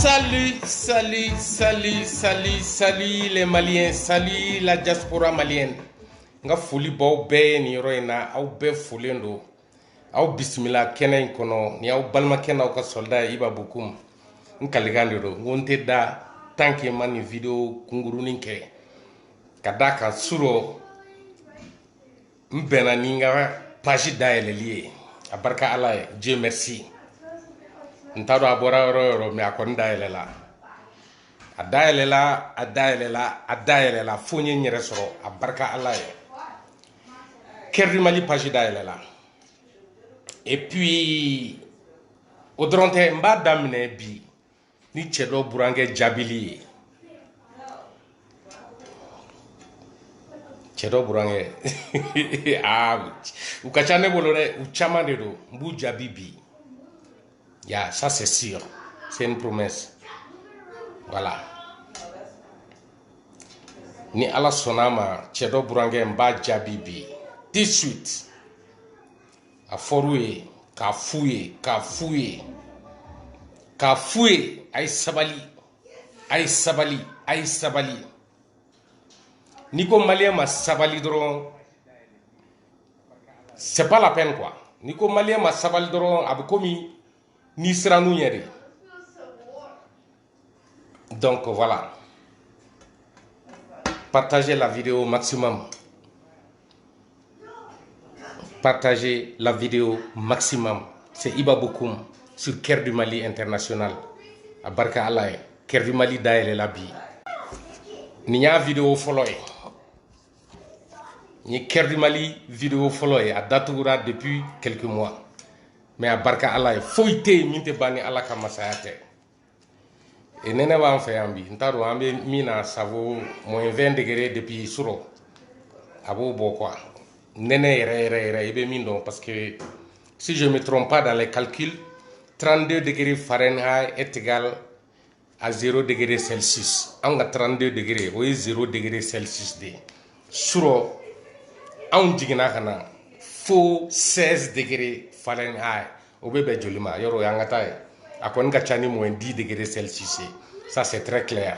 Salut, salut, salut, salut, salut les Maliens, salut la diaspora malienne. N ka foli b'aw bɛɛ ye nin yɔrɔ in na aw bɛɛ folen don aw bisimila kɛnɛ in kɔnɔ ni aw balimakɛ n'aw ka sɔlida ye iba bokum n kalikan de don n ko n tɛ da tant que n ma nin video kunkurunin kɛ ka d'a kan surɔ n bɛnna ni n ka page dayɛlɛli ye a barika ala ye dieu merci n t'a dɔn a bɔra yɔrɔ yɔrɔ mais a kɔni dayɛlɛla a dayɛlɛla a dayɛlɛla a dayɛlɛla fo n ye n yɛrɛ sɔrɔ a barika ala ye Cœur du Mali page dayɛlɛla et puis o dɔrɔn tɛ n b'a daminɛ bi ni cɛ dɔ burankɛ jaabili ye cɛ dɔ burankɛ aa u ka ca ne bolo dɛ u caman de don n b'u jaabi bi ya ça c'est sûr c'est une promesse voilà ni ala sɔnna a ma cɛ dɔ burankɛ n b'a jaabi bi tout de suite a fɔr'u ye k'a f'u ye k'a f'u ye k'a f'u ye a ye sabali a ye sabali a ye sabali n'i ko maliyɛn ma sabali dɔrɔn c'est pas la peine quoi n'i ko maliyɛn ma sabali dɔrɔn a bɛ komi n'i sirann'u ɲɛ de donc voilà partagez la vidéo maximum partagez la vidéo maximum c'est Iba Bokoum sur Cœur du Mali international a barika ala ye Cœur du Mali dayɛlɛla bi nin y'a vidéo fɔlɔ ye nin ye Cœur du Mali video fɔlɔ ye a datugura depuis quelques mois mais a barika ala ye foyi tɛ yen min tɛ ban ni ala ka masaya tɛ e nɛnɛ b'an fɛ yan bi n t'a dɔn an bɛ min na ça vaut moins 20 degrés depuis surɔ a b'o bɔ quoi nɛnɛ yɛrɛ yɛrɛ yɛrɛ i bɛ min dɔn parce que si je me trompe pas dans les calculs 32 degrés fahrenheit est égal à zéro degré celsius anw ka 32 degrés o ye zéro degré celsius de ye surɔ anw jiginna ka na fo 16 degrés fahrenheit o bɛ bɛn joli ma yɔrɔ o y'an ka taa ye a kɔni ka ca ni moins 10 degrés celsius ye ça c'est très clair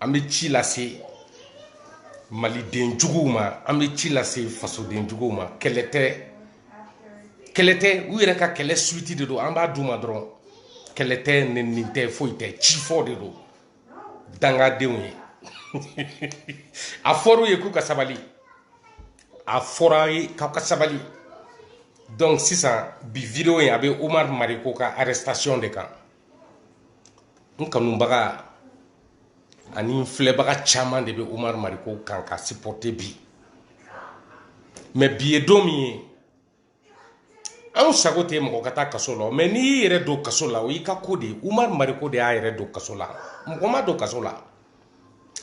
an bɛ ci lase maliden juguw ma an bɛ ci lase fasoden juguw ma kɛlɛ tɛ kɛlɛ tɛ u yɛrɛ ka kɛlɛ suite de don an b'a d'u ma dɔrɔn kɛlɛ tɛ nɛni tɛ foyi tɛ ci fɔ de don dangadenw ye a fɔr'u ye k'u ka sabali a fɔr'aw ye k'aw ka sabali donc sisan bi video in a bɛ oumar mariko ka arrestation de kan n kanubaga ani n filɛbaga caman de bɛ umaru mariko kan k'a sipɔte bi mɛ bi ye don min ye anw sago tɛ mɔgɔ ka taa kaso la mɛ n'i y'i yɛrɛ don kaso la o y'i ka ko de ye umaru mariko de y'a yɛrɛ don kaso la mɔgɔ m'a don kaso la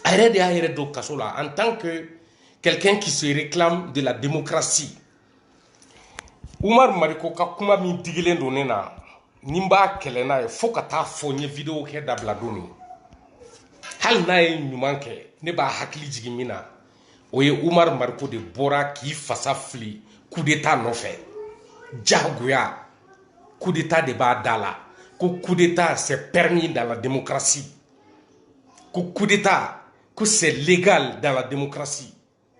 a yɛrɛ de y'a yɛrɛ don kaso la en tant que quelqu'un qui se réclame de la démocratie umaru mariko ka kuma min digilen don ne na ni n b'a kɛlɛ n'a ye fo ka taa fo n ye videwo kɛ dabila don min hali n'a ye ɲuman kɛ ne b'a hakili jigin min na o ye umaru mariko de bɔra k'i fasa fili kudeta nɔfɛ jagoya kudeta de b'a da la ko kudeta c'est permis dans la démocratie ko kudeta ko c'est légal dans la démocratie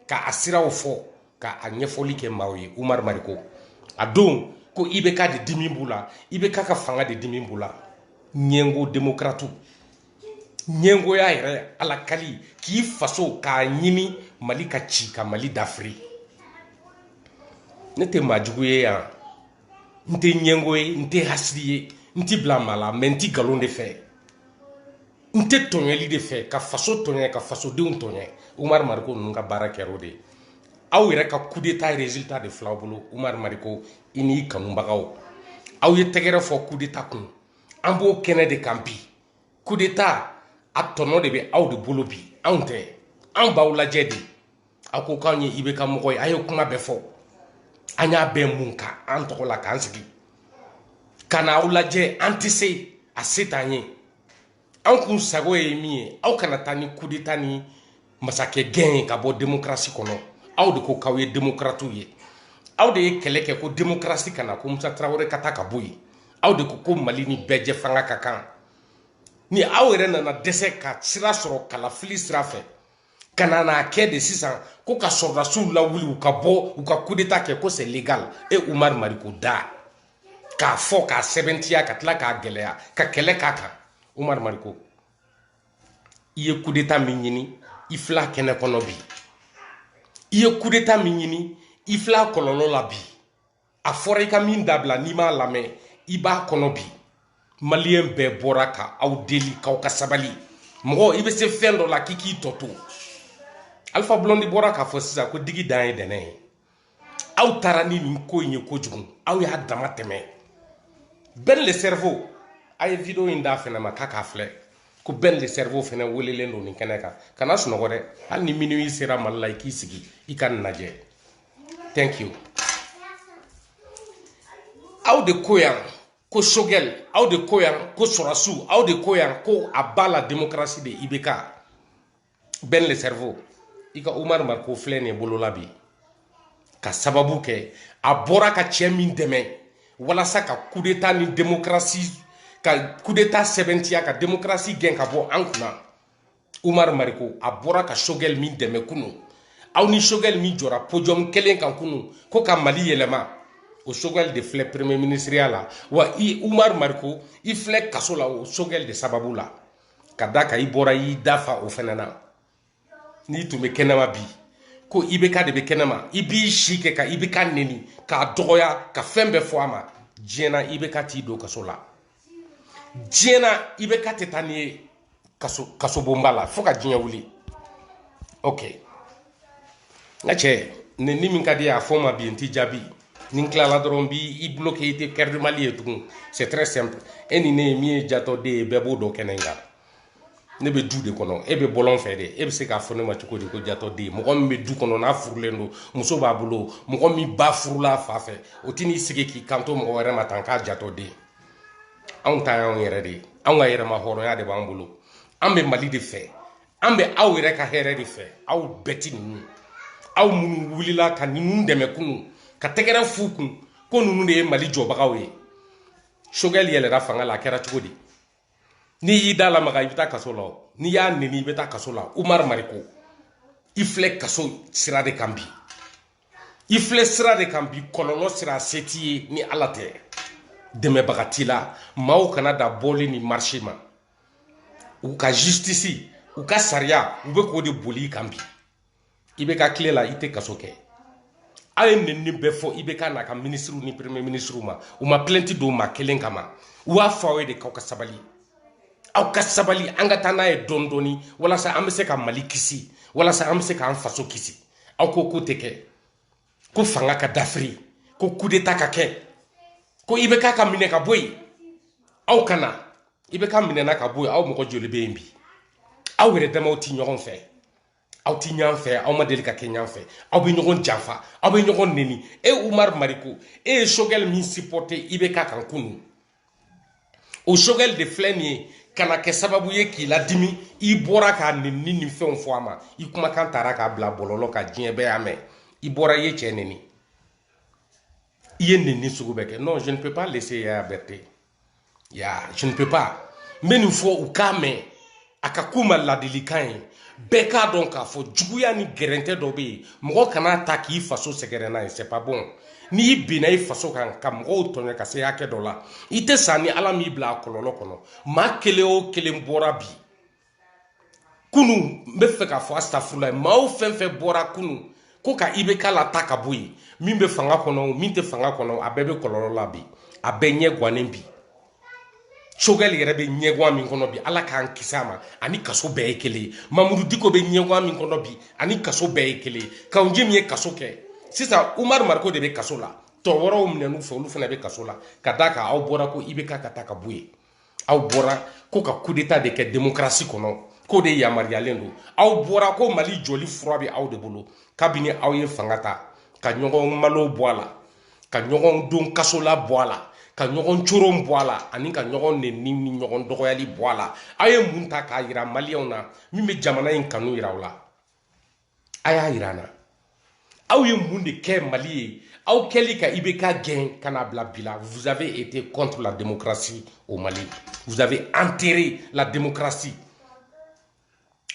ka a siraw fɔ ka a ɲɛfɔli kɛ maaw ye umar mariko a dɔn ko ibk de dimi b'u la ibk ka fanga de dimi b'u la ɲɛngo demokratiw ɲɛngoya yɛrɛ ala kali k'i faso k'a ɲini mali ka ci ka mali dafiri ne tɛ maajugu ye yan n tɛ ɲɛngo ye n tɛ hasidi ye n tɛ bila maa la mɛ n tɛ nkalon de fɛ n tɛ tɔɲɛli de fɛ ka faso tɔɲɛ ka fasodenw tɔɲɛ umaru mariko ninnu ka baara kɛra o de ye aw yɛrɛ ka kudeta resulta de fil'aw bolo umaru mariko i n'i kanubagaw aw ye tɛgɛrɛ fɔ kudeta kun an b'o kɛnɛ de kan bi kudeta a tɔnɔ de bɛ aw de bolo bi anw tɛ anw b'aw lajɛ de aw ko k'anw ye ibk mɔgɔ ye a ye kuma bɛɛ fɔ an y'a bɛɛ mun ka an tɔgɔ la k'an sigi ka na aw lajɛ an tɛ se a se t'an ye an kun sago ye min ye aw kana taa ni kudeta ni masakɛ gɛn ye ka bɔ demokarasi kɔnɔ aw de ko k'aw ye demokaratiw ye aw de ye kɛlɛ kɛ ko demokarasi ka na ko musa tarawele ka taa ka bɔ yen aw de ko ko mali ni bɛɛjɛfanga ka kan ni aw yɛrɛ nana dɛsɛ ka sira sɔrɔ kalafili sira fɛ ka na n'a kɛ de sisan ko ka sɔrɔdasiw lawuli u ka bɔ u ka kudeta kɛ ko c'est légal e umar mariko da k'a fɔ k'a sɛbɛntiya ka tila k'a gɛlɛya ka kɛlɛ k'a kan umar mariko i ye kudeta min ɲini i fil'a kɛnɛ kɔnɔ bi i ye kudeta min ɲini i fil'a kɔlɔlɔ la bi a fɔra i ka min dabila n'i m'a lamɛn i b'a kɔnɔ bi maliyɛn bɛɛ bɔra ka aw deli k'aw ka sabali mɔgɔ i bɛ se fɛn dɔ la k'i k'i tɔ to alpha blondy bɔra k'a fɔ sisan ko digi dan ye dɛnɛ ye aw taara ni nin ko in ye kojugu aw y'a damatɛmɛ ben le cerveau a ye video in d'a fɛnɛ ma k'a k'a filɛ ko ben le cerveau fɛnɛ welelen don nin kɛnɛ kan kana sunɔgɔ dɛ hali ni minuit sera mali la i k'i sigi i ka nin lajɛ thank you aw de ko yan ko choguel aw de ko yan ko sorasiw aw de ko yan ko à bas la démocratie de ibk ben le cerveau i ka umar mariko filɛ nin ye bolo la bi ka sababu kɛ a bɔra ka cɛ min dɛmɛ walasa ka kudeta ni démocratie ka kudeta sɛbɛntiya ka démocratie gɛn ka bɔ an kunna umar mariko a bɔra ka choguel min dɛmɛ kunu aw ni choguel min jɔra podium kelen kan kunu ko ka mali yɛlɛma o choguel de filɛ premier ministriya la wa i umar mariko i filɛ kaso la o choguel de sababu la ka da ka i bɔra y'i da fa o fɛnɛ na n'i tun bɛ kɛnɛma bi ko ibk de bɛ kɛnɛma i b'i si kɛ ka ibk neni k'a dɔgɔya ka fɛn bɛɛ fɔ a ma diɲɛ na ibk t'i don kaso la diɲɛ na ibk tɛ taa n'i ye kasobonba la fo ka diɲɛ wuli ok n ka cɛ ni min ka d'i ye a fɔ n ma bi n t'i jaabi ni n tilala dɔrɔn n b'i bloqué i tɛ cœur de mali ye tugun c'est très simple e ni ne ye min ye jatɔden ye bɛɛ b'o dɔn kɛnɛ in kan ne bɛ du de kɔnɔ e bɛ bɔlɔn fɛ de e bɛ se k'a fɔ ne ma cogo di ko jatɔden mɔgɔ min bɛ du kɔnɔ n'a furulen don muso b'a bolo mɔgɔ min ba furula a fa fɛ o tɛ n'i sigi k'i kanto mɔgɔ wɛrɛ ma tan k'a jatɔden anw ta y'anw yɛrɛ de ye anw ka yɛrɛma hɔrɔnya de b'an bolo an bɛ mali de fɛ an bɛ aw yɛrɛ ka hɛrɛ de fɛ aw bɛɛ ti ninnu aw minnu wulila ka ninnu dɛmɛ kunu ka tɛgɛrɛ f'u kun ko ninnu de ye mali jɔbagaw ye choguel yɛlɛra fanga la a kɛra cogo di n'i y'i da lamaga i bɛ taa kaso la n'i y'a neni i bɛ taa kaso la umar mariko i filɛ kaso sira de kan bi i filɛ sira de kan bi kɔlɔlɔ sira se t'i ye ni ala tɛ dɛmɛbaga t'i la maaw kana da bɔli ni marisi ma u ka jisitisi u ka sariya u bɛ k'o de boli i kan bi ibk tile la i tɛ kaso kɛ a ye nenini bɛɛ fɔ ibk n'a ka minisiriw ni premier minisiriw ma u ma plainte don maa kelen kama u b'a fɔ aw ye de k'aw ka sabali aw ka sabali an ka taa n'a ye dɔɔni dɔɔni walasa an bɛ se ka mali kisi walasa an bɛ se k'an faso kisi aw ko k'o tɛ kɛ ko fanga ka dafiri ko kudeta ka kɛ ko ibk ka minɛ ka bɔ yen aw kana ibk minɛna ka bɔ yen aw mɔgɔ joli bɛ yen bi aw yɛrɛ damaw tɛ ɲɔgɔn fɛ aw ti ɲɔgɔn fɛ aw ma deli ka kɛ ɲɔgɔn fɛ aw bɛ ɲɔgɔn janfa aw bɛ ɲɔgɔn neni e umar mariko e ye choguel min sipɔte ibk kan kunu o choguel de filɛ nin ye ka na kɛ sababu ye k'i ladimi i bɔra ka nenini fɛnw fɔ a ma i kumakan tara k'a bila bɔlɔlɔ kan diɲɛ bɛɛ y'a mɛn i bɔra i ye cɛ neni i ye neni sugu bɛɛ kɛ non je ne peux pas laisser yaya berthe ya je ne peux pas n bɛ nin fɔ u k'a mɛn a ka k'u ma ladilikan ye bɛɛ k'a dɔn k'a fɔ juguya ni gɛrɛntɛ dɔ bɛ yen mɔgɔ kana ta k'i faso sɛgɛrɛ n'a ye c'est pas bon n'i binna i faso kan ka mɔgɔw tɔɲɔ ka se hakɛ dɔ la i tɛ sa ni ala m'i bila a kɔlɔlɔ kɔnɔ maa kelen o kelen bɔra bi kunu n bɛ fɛ k'a fɔ asitafurulayi maaw fɛn fɛn bɔra kunu ko ka ibk la ta ka bɔ yen min bɛ fanga kɔnɔ min tɛ fanga kɔnɔ a bɛɛ bɛ kɔlɔlɔ la bi a bɛɛ ɲɛ gannen bi sogɛli yɛrɛ bɛ ɲɛgan min kɔnɔ bi ala k'an kisi a ma ani kaso bɛɛ ye kelen ye mamudu diko bɛ ɲɛgan min kɔnɔ bi ani kaso bɛɛ ye kelen ye kawu jim min ye kaso kɛ sisan umaru mariko de bɛ kaso la tɔ wɛrɛw minɛn'u fɛ olu fana bɛ kaso la ka d'a kan aw bɔra ko ibk ka taa ka bɔ yen aw bɔra ko ka kudeta de kɛ demokarasi kɔnɔ k'o de yamaruyalen don aw bɔra ko mali jɔli fura bɛ aw de bolo kabini aw ye fanga ta ka ɲɔgɔn malo bɔ a la ka ɲɔgɔn don kaso la bɔ a la ka ɲɔgɔn coron bɔ a la ani ka ɲɔgɔn nɛni ni ɲɔgɔn dɔgɔyali bɔ a la aw ye mun ta k'a yira maliyɛnw na min bɛ jamana in kanu yira aw la a y'a yira an na aw ye mun de kɛ mali ye aw kɛli ka ibk gɛn ka n'a bila bi la vous avez été contre la démocratie au mali vous avez enterré la démocratie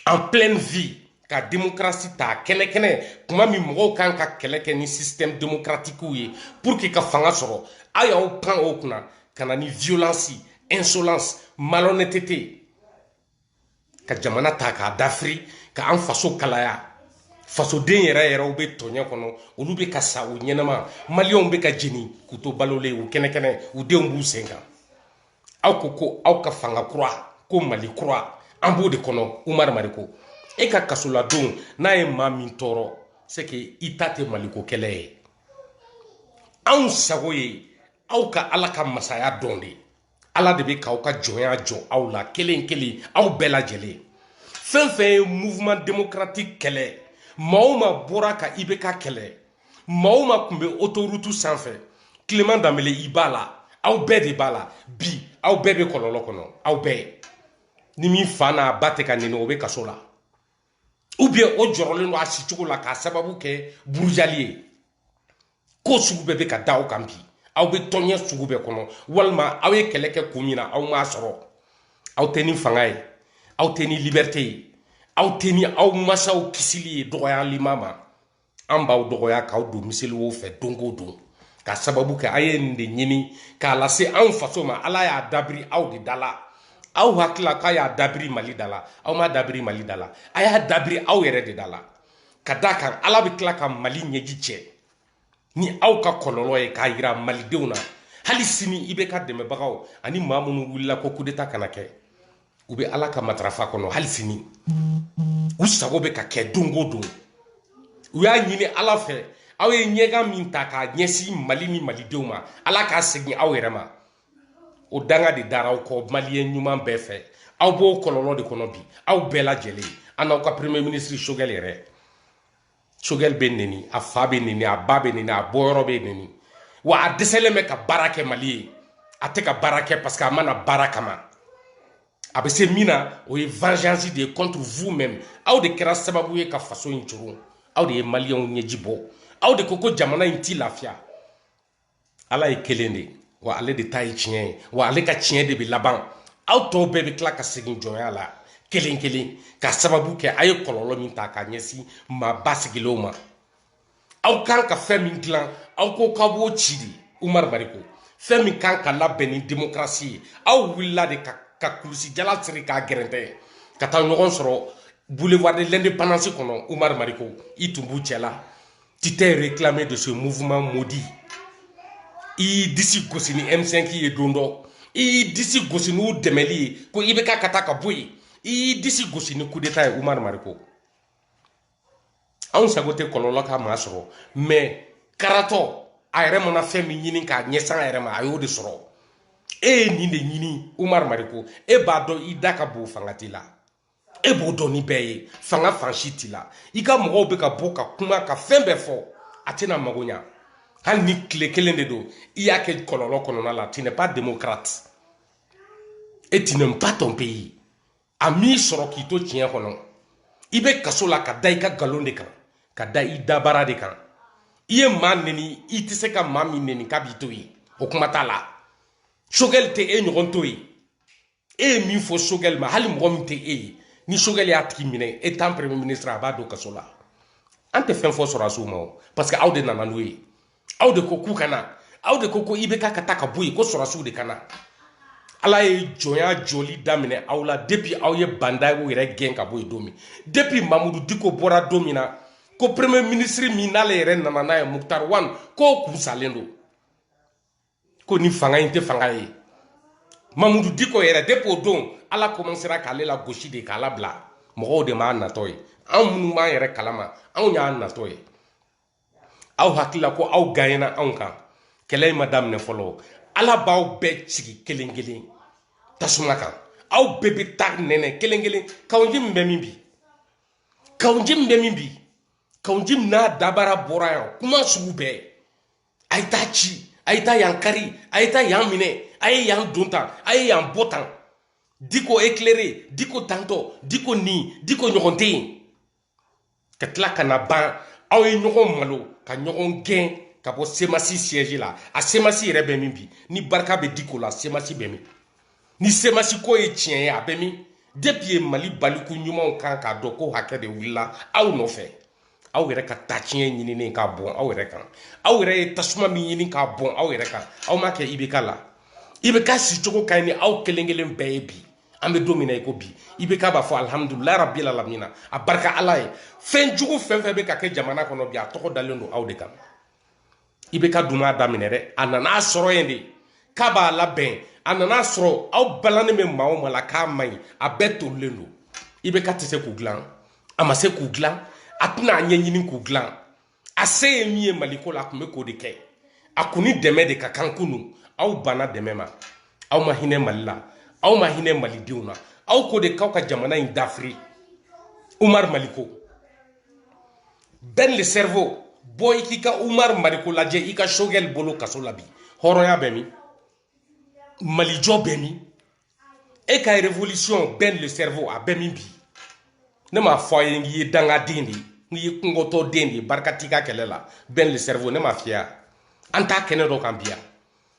en pleine vie ka démocratie ta kɛnɛ kɛnɛ kuma min mɔgɔw kan ka kɛlɛ kɛ ni système démocratique ye pour que ka fanga sɔrɔ aw y'aw pan o kunna ka na ni violence insolence malhonnêteté ka jamana ta k'a dafiri ka an faso kalaya fasoden yɛrɛ yɛrɛw bɛ tɔɲɛ kɔnɔ olu bɛ ka sa u ɲɛnama maliyɛnw bɛ ka jeni k'u to balolen u kɛnɛkɛnɛ u denw b'u sen kan aw ko aw ka fanga kura ko mali kura an b'o de kɔnɔ umaru mariko e ka kasoladon n'a ye maa min tɔɔrɔ c'est que i ta tɛ maliko kɛlɛ ye anw sago ye aw ka ala ka masaya dɔn de ye ala de bɛ k'aw ka jɔnya jɔ aw la kelen kelen aw bɛɛ lajɛlen fɛn fɛn ye mouvement démocratique kɛlɛ maa o maa bɔra ka ibk kɛlɛ maa o maa tun bɛ autoroute sanfɛ clément danbele i b'a la aw bɛɛ de b'a la bi aw bɛɛ bɛ kɔlɔlɔ kɔnɔ aw bɛɛ ni min fa n'a ba tɛ ka nɛni o bɛ kaso la ou bien o jɔrɔlen don a sicogo la k'a sababu kɛ burujali ye ko sugu bɛɛ bɛ ka da aw kan bi aw bɛ tɔɲɛ sugu bɛɛ kɔnɔ walima aw ye kɛlɛ kɛ kun min na aw m'a sɔrɔ aw tɛ ni fanga ye aw tɛ ni liberté ye aw tɛ ni aw masaw kisili ye dɔgɔyali ma ma an b'aw dɔgɔya k'aw don miseli wo fɛ don o don ka sababu kɛ a ye nin de ɲini k'a lase anw faso ma ala y'a dabiri aw de da la aw hakili la k'a y'a dabiri mali da la aw m'a dabiri mali da la a y'a dabiri aw yɛrɛ de da la ka d'a kan ala bɛ tila ka mali ɲɛji cɛ ni aw ka kɔlɔlɔ ye k'a yira malidenw na hali sini IBK dɛmɛbagaw ani maa minnu wulila ko kudeta kana kɛ u bɛ ala ka matarafa kɔnɔ hali sini u sago bɛ ka kɛ don o don u y'a ɲini ala fɛ aw ye ɲɛgan min ta k'a ɲɛsin mali ni malidenw ma ala k'a segin aw yɛrɛ ma o danga de dara aw kɔ maliyɛn ɲuman bɛɛ fɛ aw b'o kɔlɔlɔ de kɔnɔ bi aw bɛɛ lajɛlen a n'aw ka premier ministre sogɛl yɛrɛ sogɛli bɛ neni a fa bɛ neni a ba bɛ neni a bɔyɔrɔ bɛ neni wa a dɛsɛlen bɛ ka baara kɛ mali ye a tɛ ka baara kɛ parce que a ma na baara kama a bɛ se min na o ye vengeance de ye contre vous même aw de kɛra sababu ye ka faso in coron aw de ye maliyɛnw ɲɛji bɔ aw de ko ko jamana in t'i lafiya ala ye kelen de wa ale de ta ye tiɲɛ ye wa ale ka tiɲɛ de bɛ laban aw tɔw bɛɛ bɛ tila ka segin jɔnya la kelen kelen ka sababu kɛ a ye kɔlɔlɔ min ta k'a ɲɛsin maa basigilenw ma aw kan ka fɛn min dilan aw ko k'aw b'o ci de umaru mariko fɛn min kan ka labɛn ni demokarasi ye aw wulila de ka kulusijala siri k'a gɛrɛntɛ ka taa ɲɔgɔn sɔrɔ boulevard de l'indépendance kɔnɔ umaru mariko i tun b'u cɛla Tu t'es réclamé de ce mouvement maudit. I y'i disi gosi ni M5 ye don dɔ i y'i disi gosi n'u dɛmɛli ye ko IBK ka taa ka bɔ yen i y'i disi gosi ni kudeta ye Umar Mariko anw sago tɛ kɔlɔlɔ ka maa sɔrɔ mais karatɔ a yɛrɛ mana fɛn min ɲini k'a ɲɛsin a yɛrɛ ma a y'o de sɔrɔ e ye nin de ɲini Umar Mariko e b'a dɔn i da ka bon fanga t'i la e b'o dɔn ni bɛɛ ye fanga fan si t'i la i ka mɔgɔw bɛ ka bɔ ka kuma ka fɛn bɛɛ fɔ a tɛna mago ɲa hali ni tile kelen de don i y'a kɛ kɔlɔlɔ kɔnɔna la tu n'es pas démocrate et tu n'aimes pas ton pays a m'i sɔrɔ k'i to tiɲɛ kɔnɔ i bɛ kaso la ka da i ka nkalon de kan ka da i dabara de kan i ye maa neni i tɛ se ka maa min neni k'a b'i to yen o kuma t'a la sogɛli tɛ e ɲɔgɔn to yen e ye min fɔ sogɛli ma hali mɔgɔ min tɛ e ye ni sogɛli y'a tigi minɛ étant premier ministre a b'a don kaso la an tɛ fɛn fɔ sɔrɔdasiw ma o parce que aw de nana n'o ye aw de ko k'u ka na aw de ko ko IBK ka taa ka bɔ yen ko sɔrɔdasiw de ka na ala ye jɔnya jɔli daminɛ aw la depuis aw ye ba ndaw yɛrɛ gɛn ka bɔ yen don min depuis mamudu diko bɔra don min na ko premier ministre min n'ale yɛrɛ nana n'a ye muktar wan k'o kun salen don ko ni fanga in tɛ fanga ye mamudu diko yɛrɛ depuis o don ala kɔmansera k'ale lagosi de k'a labila mɔgɔw de m'a natɔ ye anw minnu b'an yɛrɛ kalama anw y'a natɔ ye aw hakilila ko aw ganyena anw kan kɛlɛ in ma daminɛ fɔlɔ ala b'aw bɛɛ sigi kelen kelen tasuma kan aw bɛɛ bɛ t'a nɛnɛ kelen kelen kawu njim bɛ min bi kawu njim bɛ min bi kawu njim n'a dabara bɔra yan kuma sugu bɛɛ a ye taa ci a ye taa yan kari a ye taa yan minɛ a ye yan don tan a ye yan bɔ tan diko éclairé diko tantɔ diko nin diko ɲɔgɔn tɛ yen ka tila ka na ban aw ye ɲɔgɔn malo ka ɲɔgɔn gɛn ka bɔ semasi siège la a semasi yɛrɛ bɛ min bi ni barika bɛ diko la semasi bɛ min ni semasi ko ye tiɲɛ ye a bɛ min depuis ye mali baliku ɲumanw kan k'a dɔn ko hakɛ de wulila aw nɔfɛ aw yɛrɛ ka taa tiɲɛ ɲinini k'a bɔn aw yɛrɛ kan aw yɛrɛ ye tasuma min ɲini k'a bɔn aw yɛrɛ kan aw m'a kɛ ibeka la ibeka sicogo ka ɲi ni aw kelen kelen bɛɛ ye bi an bɛ don min na i ko bi ibeka b'a fɔ alihamudulilayi rabili alamina a barika ala ye fɛn jugu fɛn fɛn bɛ ka kɛ jamana kɔnɔ bi a tɔgɔ dalen don aw de kan ibeka dun m'a daminɛ dɛ a nan'a sɔrɔ yen de k'a b'a labɛn a nan'a sɔrɔ aw balannen bɛ maa o maa la k'a man ɲi a bɛɛ tolilen don ibeka tɛ se k'u dilan a ma se k'u dilan a tɛna a ɲɛɲini k'u dilan a se ye min ye mali ko la a tun bɛ k'o de kɛ a kun ni dɛmɛ de ka kan kunu aw banna dɛmɛ ma aw ma hinɛ mali la aw ma hinɛ malidenw na aw ko de k'aw ka jamana in dafiri umar mariko ben le cerveau bɔ i k'i ka umar mariko lajɛ i ka sogɛli bolo kaso la bi hɔrɔnya bɛ min malijɔ bɛ min e ka révolution ben le cerveau a bɛ min bi ne m'a fɔ i ye k'i ye dangaden de ye k'i ye kungotɔ den de ye barika t'i ka kɛlɛ la ben le cerveau ne m'a f'i ye an t'a kɛnɛ dɔ kan bi yan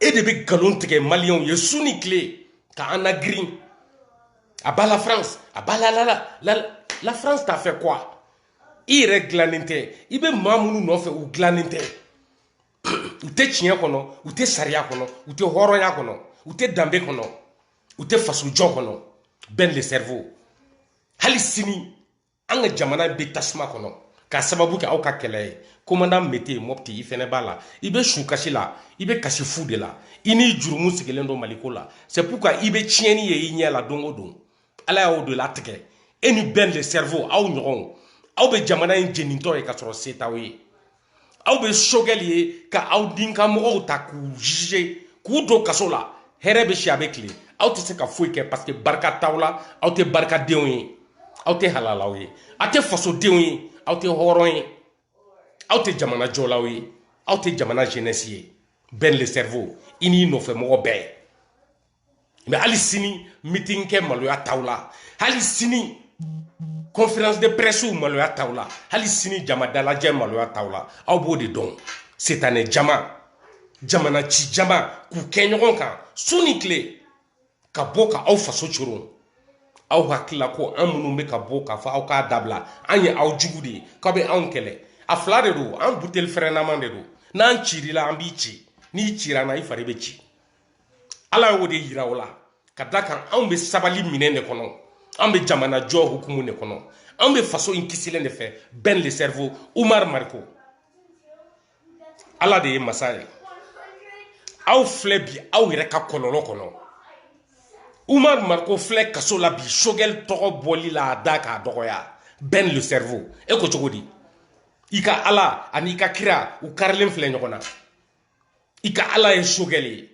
e de bɛ nkalon tigɛ maliyɛnw ye su ni tile ka an nagirin à bas la france à bas la la france t'a fait quoi i yɛrɛ dilannen tɛ i bɛ maa minnu nɔfɛ u dilannen tɛ u tɛ tiɲɛ kɔnɔ u tɛ sariya kɔnɔ u tɛ hɔrɔnya kɔnɔ u tɛ danbe kɔnɔ u tɛ fasojɔ kɔnɔ ben le cerveau hali sini an ka jamana bɛ tasuma kɔnɔ k'a sababu kɛ aw ka kɛlɛ ye komandan mete mɔpti i fɛnɛ b'a la i bɛ su kasi la i bɛ kasi fu de la i n'i jurumu sigilen don mali ko la c'est pourquoi i bɛ tiɲɛni ye i ɲɛ la don o don ala y'o de latigɛ e ni ben le cerveau aw ɲɔgɔnw aw bɛ jamana in jenintɔ ye ka sɔrɔ se t'aw ye aw bɛ sogɛli ye ka aw din ka mɔgɔw ta k'u juger k'u don kaso la hɛrɛ bɛ si a bɛ tile aw tɛ se ka foyi kɛ parce que barika t'aw la aw tɛ barikadenw ye aw tɛ halalaw ye aw tɛ fasodenw ye aw tɛ hɔrɔn ye aw tɛ jamana jɔlaw ye aw tɛ jamana jeunesse ye ben le cerveau i n'i nɔfɛ mɔgɔ bɛɛ mais hali sini meeting kɛ maloya t'aw la hali sini conférence de presse maloya t'aw la hali sini jama dalajɛ maloya t'aw la aw b'o de dɔn sitanɛ jama jamana ci jama k'u kɛ ɲɔgɔn kan su ni tile ka bɔ ka aw faso coron aw hakilila ko an minnu bɛ ka bɔ k'a fɔ aw k'a dabila an ye aw jugu de ye k'aw bɛ anw kɛlɛ a fila de don an buteli fɛrɛnaman de don n'an cir'i la an b'i ci n'i cir'an na i fari bɛ ci ala y'o de yira aw la ka da kan anw bɛ sabali minɛn de kɔnɔ anw bɛ jamana jɔ hukumu de kɔnɔ anw bɛ faso in kisilen de fɛ ben le cerveau umar mariko ala de ye masa ye aw filɛ bi aw yɛrɛ ka kɔlɔlɔ kɔnɔ umar mariko filɛ kaso la bi sogɛl tɔgɔ bɔli la a da k'a dɔgɔya ben le cerveau e ko cogo di i ka ala an'i ka kira u karilen filɛ ɲɔgɔn na i ka ala ye sogɛli ye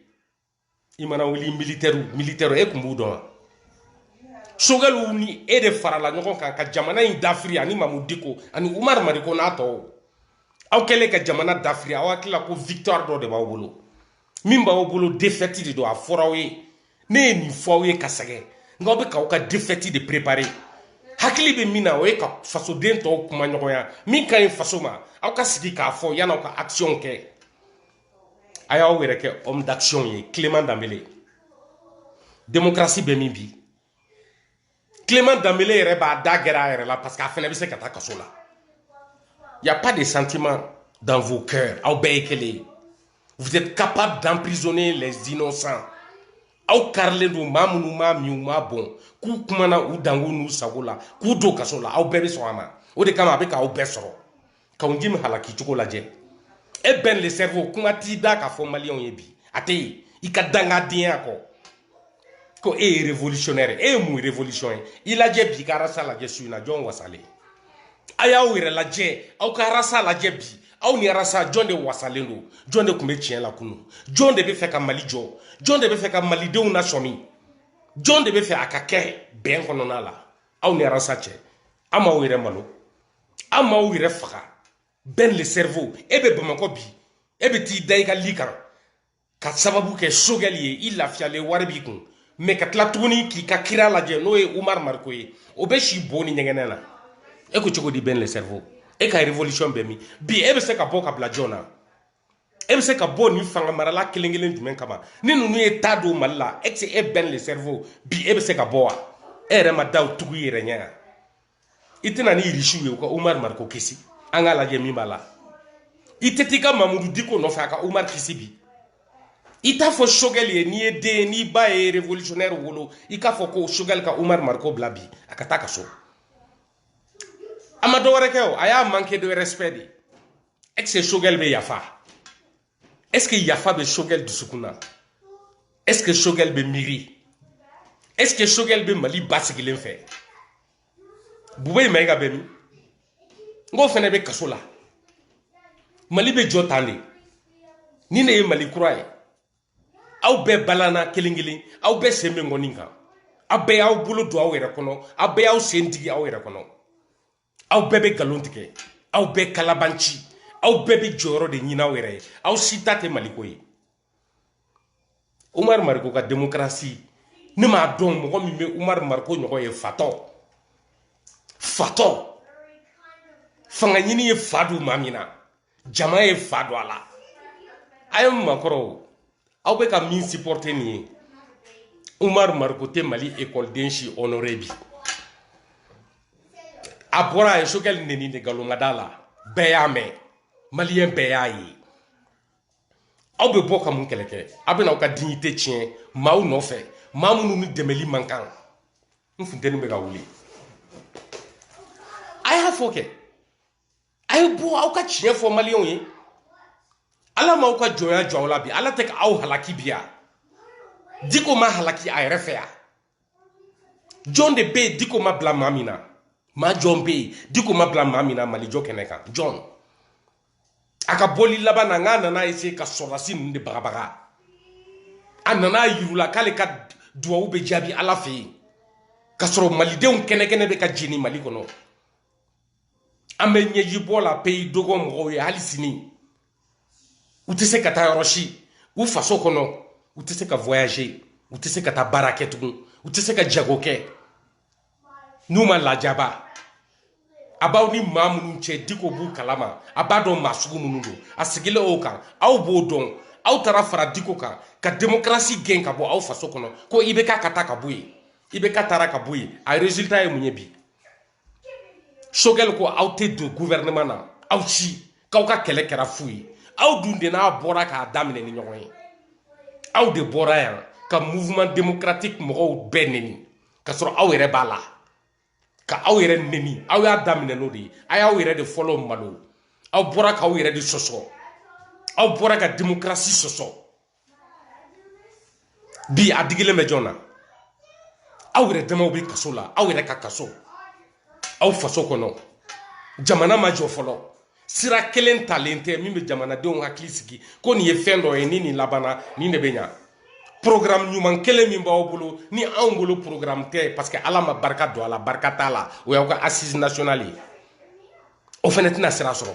i mana wuli militɛriw militɛriw e kun b'u dɔn wa sogɛliw ni e de farala ɲɔgɔn kan ka jamana in dafiri ani mamu diko ani umar mariko n'a tɔw aw kɛlen ka jamana dafiri aw hakilila ko victoire dɔ de b'aw bolo min b'aw bolo défaite de don a fɔr'aw ye ne ye nin fɔ aw ye ka sɛgɛn nka aw bɛ k'aw ka défaite de préparer hakili bɛ min na o ye ka fasoden tɔw kumaɲɔgɔnya min ka ɲi faso ma aw ka sigi k'a fɔ yan'aw ka actionw kɛ a y'aw yɛrɛ kɛ homme d'action ye clément danbele démocratie bɛ min bi clément danbele yɛrɛ b'a da gɛrɛn a yɛrɛ la parce que a fɛnɛ bɛ se ka taa kaso la y a pas de sentiment dans vos cœurs aw bɛɛ ye kelen ye vous êtes capables d'emprisonner les innocents aw karilen don maa minnu m'a min u m'a bɔn k'u kumana u dungɔ n'u sago la k'u don kaso la aw bɛɛ bɛ sɔn a ma o de kama a bɛ k'aw bɛɛ sɔrɔ kaou djim halaki cogo lajɛ e ben le cerveau kuma t'i da k'a fɔ maliyɛnw ye bi a tɛ yen i ka dangadenya kɔ ko e ye révolutionnaire e ye mun révolution ye i lajɛ bi i ka arasa lajɛ su in na jɔn wasalen a y'aw yɛrɛ lajɛ aw ka arasa lajɛ bi aw ni arasa jɔn de wasalen don jɔn de tun bɛ tiɲɛ la kunu jɔn de b'a fɛ ka mali jɔ jɔn de b'a fɛ ka malidenw nasɔmi jɔn de b'a fɛ a ka kɛ bɛn kɔnɔna la aw ni arasa cɛ an m'aw yɛrɛ malo aw m'aw yɛrɛ faga bɛn le cerveau e bɛ bamakɔ bi e bɛ t'i da i ka lit kan ka sababu kɛ sogɛli ye i lafiyalen wari b'i kun mais ka tila tuguni k'i ka kira lajɛ n'o ye umar mariko ye o bɛ si bo ni ɲɛgɛnɛ na e ko cogo di bɛn le cerveau e ka révolution bɛ min bi e bɛ se ka bɔ ka bila jɔn na e bɛ se ka bɔ ni fanga marala kelen kelen jumɛn kama ni ninnu ye taa don mali la e tɛ e bɛn le cerveau bi e bɛ se ka bɔ wa e yɛrɛ ma da tugu i yɛrɛ ɲɛ kan i tɛ na ni irisiw ye u ka umar mariko kisi an k'a lajɛ min b'a la i tɛ t'i ka mamudu diko nɔfɛ a ka umar kisi bi i t'a fɔ sogɛli ye n'i ye den ye n'i ba ye revolutionnaire wolo i k'a fɔ ko sogɛli ka umar mariko bila bi a ka taa ka so a ma dɔwɛrɛ kɛ o a y'a manqué de respect de est ce que sogɛli bɛ yafa est ce que yafa bɛ sogɛli dusukun na est ce que sogɛli bɛ miiri est ce que sogɛli bɛ mali basigilen fɛ bubɛyi mayiga bɛ min n k'o fɛnɛ bɛ kaso la mali bɛ jɔ tan de nin de ye mali kura ye aw bɛɛ balanna kelen kelen aw bɛɛ sen bɛ ŋɔni kan aw bɛɛ y'aw bolo don aw yɛrɛ kɔnɔ aw bɛɛ y'aw sen digi aw yɛrɛ kɔnɔ aw bɛɛ bɛ nkalon tigɛ aw bɛɛ kalabanci aw bɛɛ bɛ jɔyɔrɔ de ɲini aw yɛrɛ ye aw si ta tɛ maliko ye umaru mariko ka demokarasi ne m'a dɔn mɔgɔ min bɛ umaru mariko ɲɔgɔn ye fatɔ fatɔ fanga ɲini ye fa don maa min na jama ye fa don a la a ye makɔrɔw aw bɛ ka min supporter nin ye umar mariko tɛ mali ekɔli déshonorer bi a bɔra a ye sogɛli neni de nkalonŋada la bɛɛ y'a mɛn maliyɛn bɛɛ y'a ye aw bɛ bɔ ka mun kɛlɛ kɛ aw bɛna aw ka dignité tiɲɛ maaw nɔfɛ maa minnu ni dɛmɛli man kan n funteni bɛ ka wuli a y'a fɔ kɛ a ye bɔ aw ka tiɲɛ fɔ maliyɛnw ye ala m'aw ka jɔnya jɔ aw la bi ala tɛ ka aw halaki bi yan diko ma halaki a yɛrɛ fɛ yan jɔn de bɛ yen diko ma bila maa min na maa jɔn bɛ yen diko ma bila maa min na mali jɔ kɛnɛ kan jɔn a ka bɔli laban na n k'a nana essayer ka sɔrɔdasi ninnu de bagabaga a nana yir'u la k'ale ka duwawu bɛ jaabi ala fɛ yen ka sɔrɔ malidenw kɛnɛkɛnɛ bɛ ka jeni mali kɔnɔ an bɛ ɲɛjibɔ la pays dogon mɔgɔw ye hali sini u tɛ se ka taa yɔrɔ si u faso kɔnɔ u tɛ se ka voyager u tɛ se ka taa baara kɛ tugun u tɛ se ka jago kɛ n'u ma lajaba a b'aw ni maa minnu cɛ diko b'u kalama a b'a dɔn maa sugu minnu don a sigilen o kan aw b'o dɔn aw taara fara diko kan ka demokarasi gɛn ka bɔ aw faso kɔnɔ ko ibk ka taa ka bɔ yen ibk taara ka bɔ yen a résultat ye mun ye bi choguel ko aw tɛ don gouvernement na aw si k'aw ka kɛlɛ kɛra fu ye aw dun de n'a bɔra k'a daminɛ ni ɲɔgɔn ye aw de bɔra yan ka mouvement démocratique mɔgɔw bɛɛ neni ka sɔrɔ aw yɛrɛ b'a la ka aw yɛrɛ neni aw y'a daminɛ n'o de ye a y'aw yɛrɛ de fɔlɔ malo aw bɔra k'aw yɛrɛ de sɔsɔ aw bɔra ka démocratie sɔsɔ bi a digilen bɛ jɔn na aw yɛrɛ damaw bɛ kaso la aw yɛrɛ ka kaso aw faso kɔnɔ jamana ma jɔ fɔlɔ sira kelen talen tɛ min bɛ jamanadenw hakili sigi ko nin ye fɛn dɔ ye ni nin labanna nin de bɛ ɲa programme ɲuman kelen min b'aw bolo ni aw bolo programme tɛ parce que ala ma barika don a la barika t'a la o y'aw ka assise nationale ye o fana tɛna sira sɔrɔ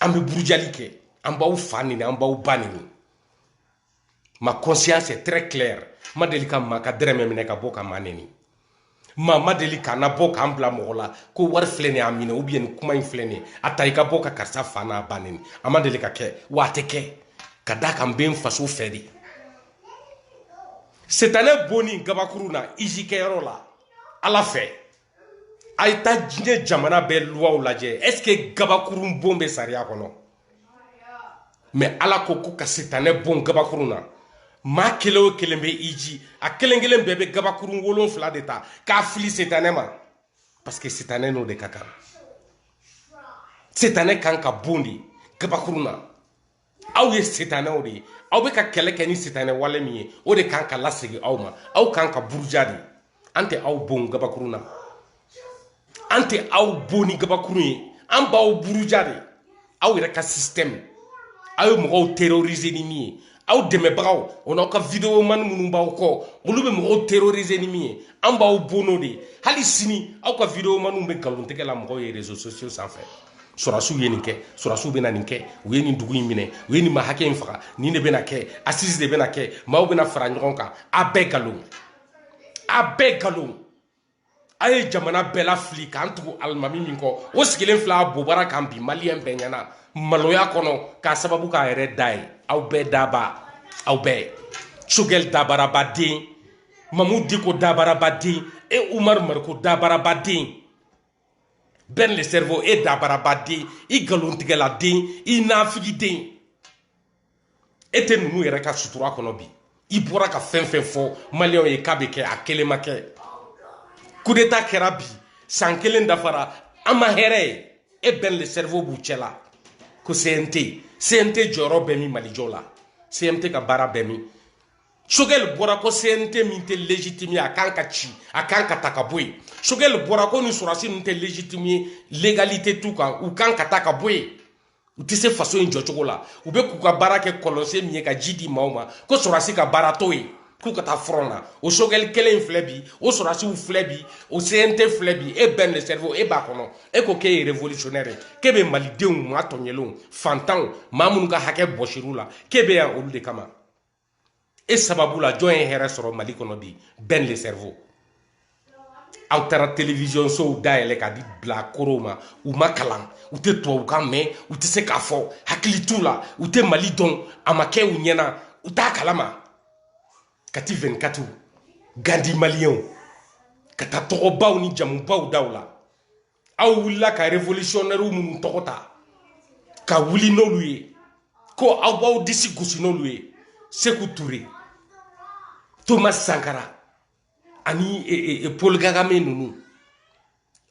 an bɛ burujali kɛ an b'aw fa neni an b'aw ba neni ma conscience est très claire n ma deli ka maa ka dɛrɛmɛ minɛ ka bɔ ka maa neni maa ma deli ka na bɔ ka n bila mɔgɔ la ko wari filɛ nin ye a minɛ ou bien nin kuma in filɛ nin ye a ta i ka bɔ ka karisa fa n'a ba neni a ma deli ka kɛ wa a tɛ kɛ ka d'a kan n bɛ n faso fɛ de setanɛ bonni gabakuru na hiji kɛyɔrɔ la ala fɛ a ye taa diɲɛ jamana bɛɛ luwaw lajɛ est ce que gabakurun bon bɛ sariya kɔnɔ mais ala ko ko ka sitanɛ bon gabakurun na maa kelen o kelen bɛ hiji a kelen kelen bɛɛ bɛ gabakurun wolonfila de ta k'a fili sitanɛ ma parce que sitanɛ n'o de ka kan sitanɛ kan ka bon de gabakurun na aw ye sitanɛw de ye aw bɛ ka kɛlɛ kɛ ni sitanɛ wale min ye o de kan ka lasegin aw ma aw kan ka buruja de an tɛ aw bon gabakurun na an tɛ aw bon ni gabakurun ye an b'aw buruja de aw yɛrɛ ka système aw ye mɔgɔw terroriser ni min ye aw dɛmɛbagaw o n'aw ka videomani minnu b'aw kɔ olu bɛ mɔgɔw terroriser ni min ye an b'aw bon n'o de ye hali sini aw ka videomaniw bɛ nkalontigɛ la mɔgɔw ye réseaux sociaux sanfɛ sɔrɔdasiw ye nin kɛ sɔrɔdasiw bɛna nin kɛ u ye nin dugu in minɛ u ye nin maa hakɛ in faga nin de bɛna kɛ assise de bɛna kɛ maaw bɛna fara ɲɔgɔn kan a bɛɛ nkalon a bɛɛ nkalon a ye jamana bɛɛ lafili k'an tugu alimami min kɔ o sigilen filɛ a bobara kan bi maliyɛn bɛɛ ɲɛna maloya kɔnɔ k'a sababu k'a yɛrɛ da ye aw bɛɛ daba aw bɛɛ choguel dabarabaden mahmoud dicko dabarabaden e oumar mariko dabarabaden ben le cerveau e dabarabaden i nkalontigɛladen i nafigiden e tɛ ninnu yɛrɛ ka sutura kɔnɔ bi i bɔra ka fɛn fɛn fɔ maliyɛnw ye k'a bɛ kɛ a kelen ma kɛ coup d'état kɛra bi san kelen dafara an ma hɛrɛ ye e ben le cerveau b'u cɛla ko cnt cnt jɔyɔrɔ bɛ min mali jɔ la cnt ka baara bɛ min sogɛli bɔra ko cnt min tɛ légitime ye a kan ka ci a kan ka ta ka bɔ yen sogɛli bɔra ko nin sɔrɔdasi ninnu tɛ légitime ye légalité t'u kan u kan ka ta ka bɔ yen u tɛ se faso in jɔcogo la u bɛ k'u ka baara kɛ kɔlɔnsen min ye ka ji di maaw ma ko sɔrɔdasi ka baara t'o ye k'u ka taa front na o sogɛli kelen in filɛ bi o sɔrɔdasiw filɛ bi o cnt filɛ bi e ben le cerveau e b'a kɔnɔ e ko k'e ye révolutionnaire ye k'e bɛ malidenw maa tɔɲɛlenw fantanw maa minnu ka hakɛ bɔsir'u la k'e bɛ yan olu de kama e sababu la jɔn ye hɛrɛ sɔrɔ mali kɔnɔ bi ben le cerveau aw taara télévision sow dayɛlɛ ka di bilakorow ma u ma kalan u tɛ tubabukan mɛn u tɛ se k'a fɔ hakili t'u la u tɛ mali dɔn a ma kɛ u ɲɛna u t'a kalama kati 24 gandi maliyɛnw ka taa tɔgɔbaw ni jamubaw daw la aw wulila ka révolutionnairew minnu tɔgɔ ta ka wuli n'olu ye ko aw b'aw disi gosi n'olu ye seku ture thomas sankara ani e, e, e, paul kagame ninnu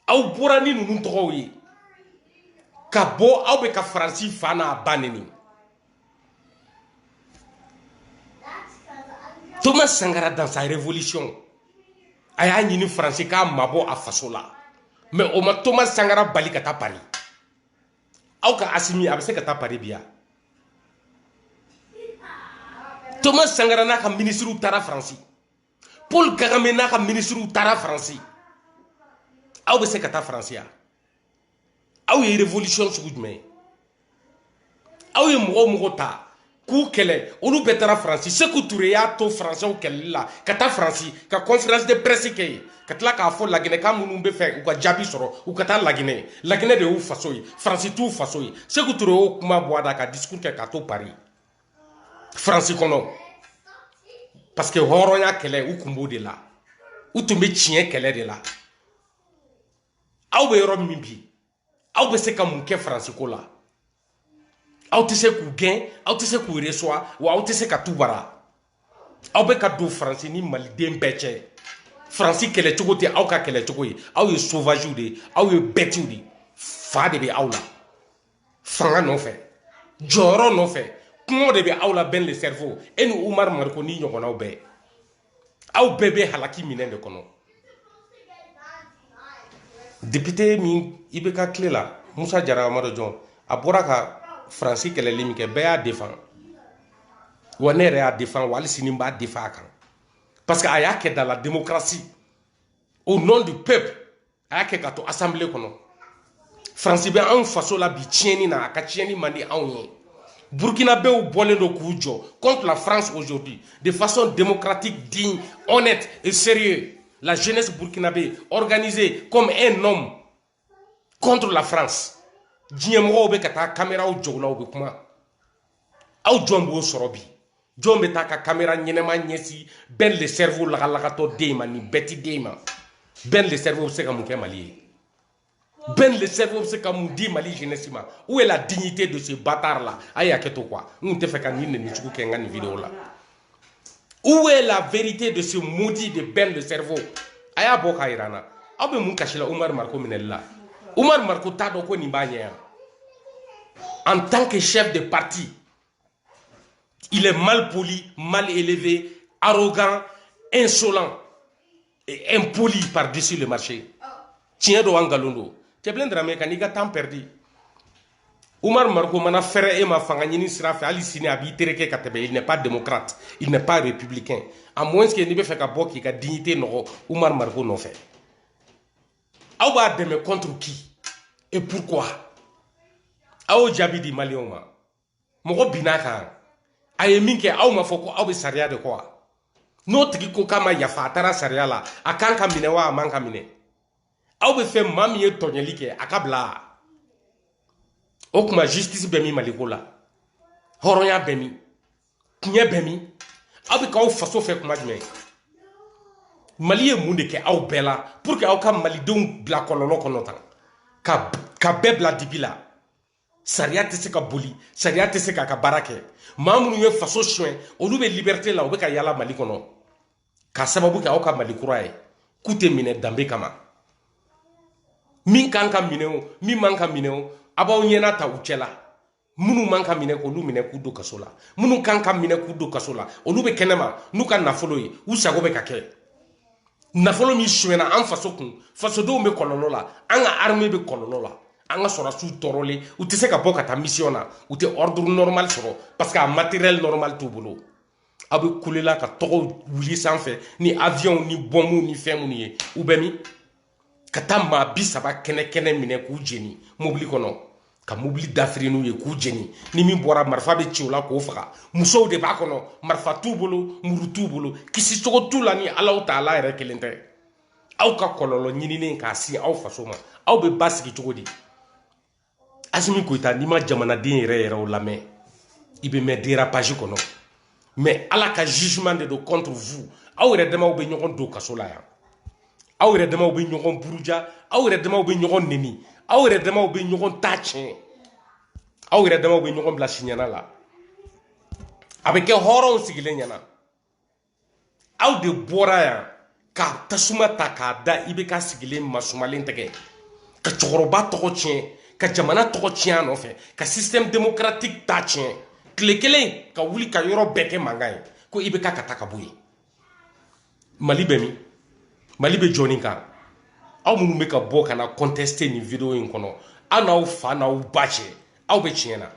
aw bɔra ni ninnu tɔgɔw ye ka bɔ aw bɛ ka faransi fa n'a ba neni thomas sankara dans sa révolution a y'a ɲini faransi k'a mabɔ a faso la mais o ma thomas sankara bali ka taa paris aw ka asimi a bɛ se ka taa paris bi ya thomas sankara n'a ka minisiriw taara faransi paul kagame n'a ka minisiriw taara faransi aw bɛ se ka taa faransi ya aw ye révolution sugu jumɛn ye aw ye mɔgɔ o mɔgɔ ta k'u kɛlɛ olu bɛɛ taara faransi seku ture y'a to faransɛw kɛlɛli la ka taa faransi ka conférence de presse kɛ yen ka tila k'a fɔ laginɛka minnu b'a fɛ u ka jaabi sɔrɔ u ka taa laginɛ laginɛ de y'u faso ye faransi t'u faso ye seku ture y'o kuma bɔ a da ka discours kɛ k'a to paris faransi kɔnɔ parce que hɔrɔnya kɛlɛ u kun b'o de la u tun bɛ tiɲɛ kɛlɛ de la aw bɛ yɔrɔ min bi aw bɛ se ka mun kɛ faransi ko la aw tɛ se k'u gɛn aw tɛ se k'u reçoit wa aw tɛ se ka t'u bara aw bɛ ka don faransi ni maliden bɛɛ cɛ faransi kɛlɛcogo tɛ aw ka kɛlɛcogo ye aw ye sovaziw de ye aw ye bɛtiw de ye fa de bɛ aw la fanga nɔfɛ jɔyɔrɔ nɔfɛ kɔngɔ de bɛ aw la ben le cerveau e ni umar mariko n'i ɲɔgɔnnaw bɛɛ aw bɛɛ bɛ halaki minɛn de kɔnɔ député min ibk tile la musa jara amadu jɔn a bɔra ka faransi kɛlɛli min kɛ bɛɛ y'a défend wa ne yɛrɛ y'a défend wa hali sini n b'a défend a kan parce que a y'a kɛ dans la démocratie au nom du peuple a y'a kɛ ka to assemblée kɔnɔ faransi bɛ anw faso la bi tiɲɛni na a ka tiɲɛni man di anw ye burkinabew bɔlen don k'u jɔ contre la france aujourd'hui de façon démocratique digne honnête et sérieux la jeunesse burkinabé organisée comme un homme contre la france diɲɛmɔgɔw bɛ ka taa kameraw jɔ u la u bɛ kuma aw jɔn b'o sɔrɔ bi jɔn bɛ taa ka kamera ɲɛnama ɲɛsin Ben le cerveau lagalagatɔ den ma nin bête den ma Ben le cerveau bɛ se ka mun kɛ mali ye Ben le cerveau bɛ se ka mun di mali jeunesse ma où est la dignité de ce bâtard la a ye hakɛ to quoi n tun tɛ fɛ ka nin nɛni jugu kɛ n ka nin vidéo la Où est la vérité de ce maudit de Ben le cerveau A y'a bɔ k'a yira n na aw bɛ mun kasi la Umar Mariko minɛli la Umar Mariko t'a dɔn ko nin b'a ɲɛ yan en tant que chef de parti il est mal poli mal élevé arrogant insolent impoli par dessus le marché tiɲɛ don wa nkalon don cɛbilen dramɛ kan'i ka temps perdu Umar Mariko mana fɛrɛ e ma fanga ɲini sira fɛ hali sini a b'i tereke ka tɛmɛ il n'est pas démocrate il n'est pas républicain à moins que n'i bɛ fɛ ka bɔ k'i ka dignité nɔgɔ Umar Mariko nɔfɛ aw b'a dɛmɛ contre qui et pourquoi aw jaabi di maliyɛnw ma mɔgɔ binna kan a ye min kɛ aw ma fɔ ko aw bɛ sariya de kɔ wa n'o tigi ko k'a ma yafa a taara sariya la a kan ka minɛ wa a man ka minɛ aw bɛ fɛ maa min ye tɔɲɛli kɛ a ka bila o kuma justice bɛ min maliko la hɔrɔnya bɛ min tiɲɛ bɛ min aw bɛ k'aw faso fɛ kuma jumɛn mali ye mun de kɛ aw bɛɛ la pour que aw ka malidenw bila kɔlɔlɔ kɔnɔ tan ka bɛɛ bila dibi la sariya tɛ se ka boli sariya tɛ se k'a ka baara kɛ maa minnu ye faso sonyɛ olu bɛ liberté la u bɛ ka yala mali kɔnɔ ka sababu kɛ aw ka mali kura ye k'u tɛ minɛ danbe kama min kan ka minɛ o min man ka minɛ o a b'aw ɲɛna ta u cɛ la minnu man ka minɛ k'olu minɛ k'u don kaso la minnu kan ka minɛ k'u don kaso la olu bɛ kɛnɛma n'u ka nafolo ye u sago bɛ ka kɛ nafolo min sunyɛna an faso kun fasodenw bɛ kɔlɔlɔ la an ka armée bɛ kɔlɔlɔ la an ka sɔrɔsiw tɔɔrɔlen u tɛ se ka bɔ ka taa mission na u tɛ ordre normal sɔrɔ parce que a matériel normal t'u bolo aw bɛ kule la ka tɔgɔw wuli sanfɛ ni avion ni bɔnmu ni fɛn minnu ye u bɛ min ka taa maa bi saba kɛnɛ kɛnɛ minɛ k'u jeni mobili kɔnɔ ka mobili dafiri n'u ye k'u jeni ni min bɔra marifa bɛ ci o la k'o faga musow de b'a kɔnɔ marifa t'u bolo muru t'u bolo kisi cogo t'u la ni alahu taala yɛrɛ kelen tɛ aw ka kɔlɔlɔ ɲininen k'a sin aw faso ma aw bɛ basigi cogo di asimi goyita n'i ma jamanaden yɛrɛ yɛrɛw lamɛn i bɛ mɛn dérapage kɔnɔ mais ala ka jugement de don contre vous aw yɛrɛ damaw bɛ ɲɔgɔn don kaso la yan aw yɛrɛ damaw bɛ ɲɔgɔn buruja aw yɛrɛ damaw bɛ ɲɔgɔn neni aw yɛrɛ damaw bɛ ɲɔgɔn ta tiɲɛ aw yɛrɛ damaw bɛ ɲɔgɔn bila siɲɛna la a bɛ kɛ hɔrɔnw sigilen ɲɛna aw de bɔra yan ka tasuma ta k'a da ibk sigilen masumalen tɛgɛ ka cɛkɔrɔba tɔgɔ tiɲɛ ka jamana tɔgɔ tiɲɛ a nɔfɛ ka système démocratique ta tiɲɛ tile kelen ka wuli ka yɔrɔ bɛɛ kɛ mankan ye ko ibk ka taa ka bɔ yen mali bɛ min mali bɛ jɔni kan aw minnu bɛ ka bɔ ka na contester nin video in kɔnɔ aw n'aw fa n'aw ba cɛ aw bɛ tiɲɛ na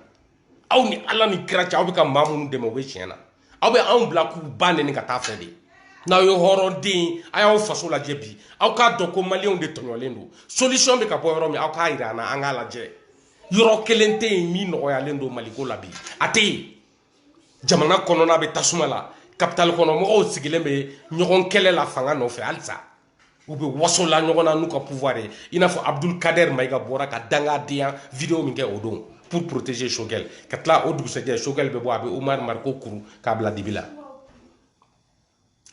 aw ni ala ni kira cɛ aw bɛ ka maa minnu dɛmɛ o bɛ tiɲɛ na aw bɛ anw bila k'u ba neni ka taa fɛ de n'aw ye hɔrɔnden ye a y'aw faso lajɛ bi aw k'a dɔn ko maliyɛnw de tɔɲɔlen don solution bɛ ka bɔ yɔrɔ min aw k'a yira an na an k'a lajɛ yɔrɔ kelen tɛ yen min nɔgɔyalen don maliko la bi a tɛ yen jamana kɔnɔna bɛ tasuma la kapitali kɔnɔ mɔgɔw sigilen bɛ ɲɔgɔn kɛlɛ la fanga nɔfɛ halisa u bɛ waso la ɲɔgɔn na n'u ka pouvoir ye i n'a fɔ abdul kader mayiga bɔra ka dangadenya video min kɛ o don pour protéger choguel ka tila o dugusɛjɛ choguel bɛ bɔ a bɛ omar mariko kuru k'a bila dibi la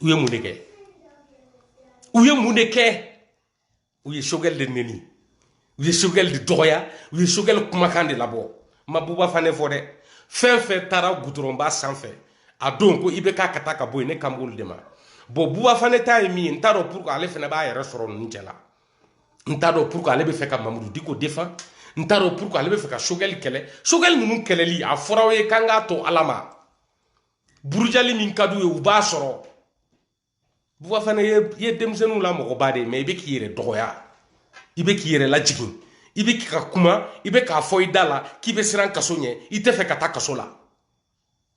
u ye mun de kɛ u ye mun de kɛ u ye choguel de neni u ye choguel de dɔgɔya u ye choguel kumakan de labɔ n ma buba fane fɔ dɛ fɛn fɛn taara gudɔrɔnba sanfɛ a don ko ibk ka taa ka bɔ yen ne kan b'olu de ma bon buba fane ta ye min ye n t'a dɔn pourquoi ale fana b'a yɛrɛ sɔrɔ ninnu cɛ la n t'a dɔn pourquoi ale bɛ fɛ ka mahmoud dicko défendre n t'a dɔn pourquoi ale bɛ fɛ ka choguel kɛlɛ choguel ninnu kɛlɛli a fɔra aw ye k'an k'a to ala ma burujali min ka d'u ye u b'a sɔrɔ buba fane e ye denmisɛnninw la mɔgɔba de ye mais i bɛ k'i yɛrɛ dɔgɔya i bɛ k'i yɛrɛ lajigin i bɛ ka kuma i bɛ k'a fɔ i da la k'i bɛ siran kaso ɲɛ i tɛ fɛ ka taa kaso la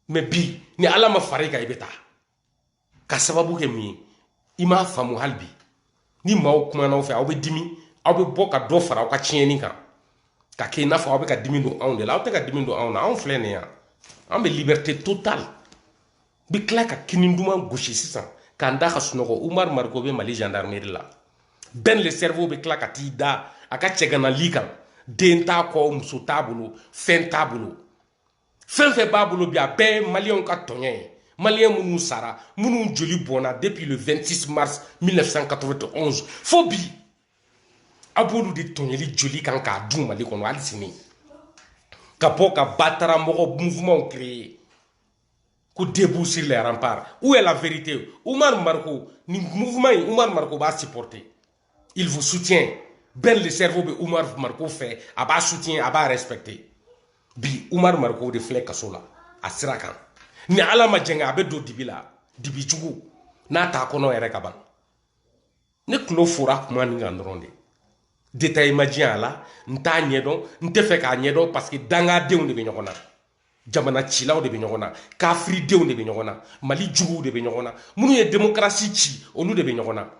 mais bi ni ala ma fara i kan i bɛ taa ka sababu kɛ min ye i m'a faamu hali bi ni maaw kumana aw fɛ aw bɛ dimi aw bɛ bɔ ka dɔ fara aw ka tiɲɛni kan ka kɛ i n'a fɔ aw bɛ ka dimi don anw de la aw tɛ ka dimi don anw na anw filɛ nin yan an bɛ liberté totale an bɛ tila ka kini duman gosi sisan k'an da ka sunɔgɔ umar mariko bɛ mali gendarmerie la ben le cerveau bɛ tila ka t'i da a ka cɛgana lit kan den t'a kɔ muso t'a bolo fɛn t'a bolo fɛn fɛn b'a bolo bi a bɛɛ ye maliyɛnw ka tɔɲɔ ye maliyɛn minnu sara minnu joli bɔnna depuis le 26 mars 1991 fo bi a b'olu de tɔɲɔli joli kan k'a dun mali kɔnɔ hali sini ka bɔ ka bataramɔgɔ mouvement créer ko debout sur les remparts où est la vérité Oumar Mariko ni mouvement in Oumar Mariko b'a supporter il vous soutient Ben le cerveau bɛ Oumar Mariko fɛ a b'a soutien a b'a respecter bi Oumar Mariko de filɛ kaso la a sira kan ni Ala ma jɛngɛ a bɛ don dibi la dibi jugu n'a t'a kɔnɔ yɛrɛ ka ban ne tulo fora kuma nin kan dɔrɔn de détail ma diɲɛ a la n t'a ɲɛdɔn n tɛ fɛ k'a ɲɛdɔn parce que dangadenw de bɛ ɲɔgɔn na jamana cilaw de bɛ ɲɔgɔn na kafiridenw de bɛ ɲɔgɔn na mali juguw de bɛ ɲɔgɔn na minnu ye demokarasi ci olu de bɛ ɲɔgɔn na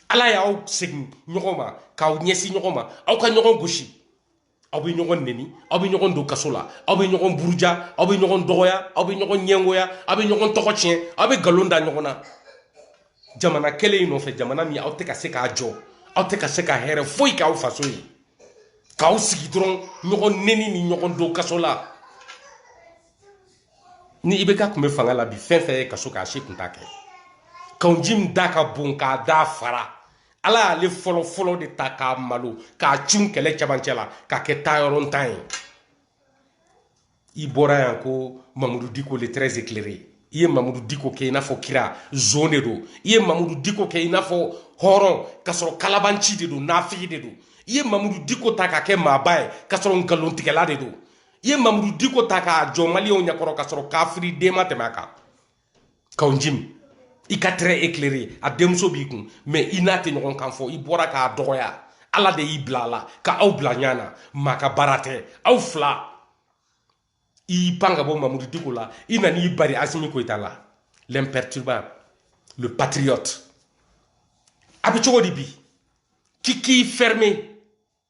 ala y'aw segin ɲɔgɔn ma k'aw ɲɛsin ɲɔgɔn ma aw ka ɲɔgɔn gosi aw bɛ ɲɔgɔn neni aw bɛ ɲɔgɔn don kaso la aw bɛ ɲɔgɔn buruja aw bɛ ɲɔgɔn dɔgɔya aw bɛ ɲɔgɔn ɲɛngoya aw bɛ ɲɔgɔn tɔgɔ tiɲɛ aw bɛ nkalon da ɲɔgɔn na jamana kelen in nɔfɛ jamana min aw tɛ ka se k'a jɔ aw tɛ ka se ka hɛrɛ foyi k'aw faso ye k'aw sigi dɔrɔn ɲɔgɔn neni ni ɲɔgɔn don kaso la ni ibk tun bɛ fanga la bi fɛn fɛn ye kaso k'a si kun t'a kɛ kaw jimi da ka bon k'a da fara ala y'ale fɔlɔ fɔlɔ de ta k'a malo k'a cun kɛlɛ cɛmancɛ la k'a kɛ taayɔrɔntan ye i bɔra yan ko mamudu diko le très éclairé i ye mamudu diko kɛ i n'a fɔ kira zon de don i ye mamudu diko kɛ i n'a fɔ hɔrɔn k'a sɔrɔ kalabanci de don nafigi de don i ye mamudu diko ta k'a kɛ maaba ye k'a sɔrɔ nkalontigɛla de don i ye mamudu diko ta k'a jɔ maliyɛnw ɲɛkɔrɔ k'a sɔrɔ kafiriden ma tɛmɛ a kan kaw jimi i ka très éclairé a denmuso b'i kun mais i n'a tɛ ɲɔgɔn kan fɔ i bɔra k'a dɔgɔya ala de y'i bila a la ka aw bila ɲɔgɔn na maa ka baara tɛ aw fila i y'i pan ka bɔ mamudu diko la i nana i bari asimi goyita la l'imperturbable le patriote a bɛ cogo di bi k'i k'i ferme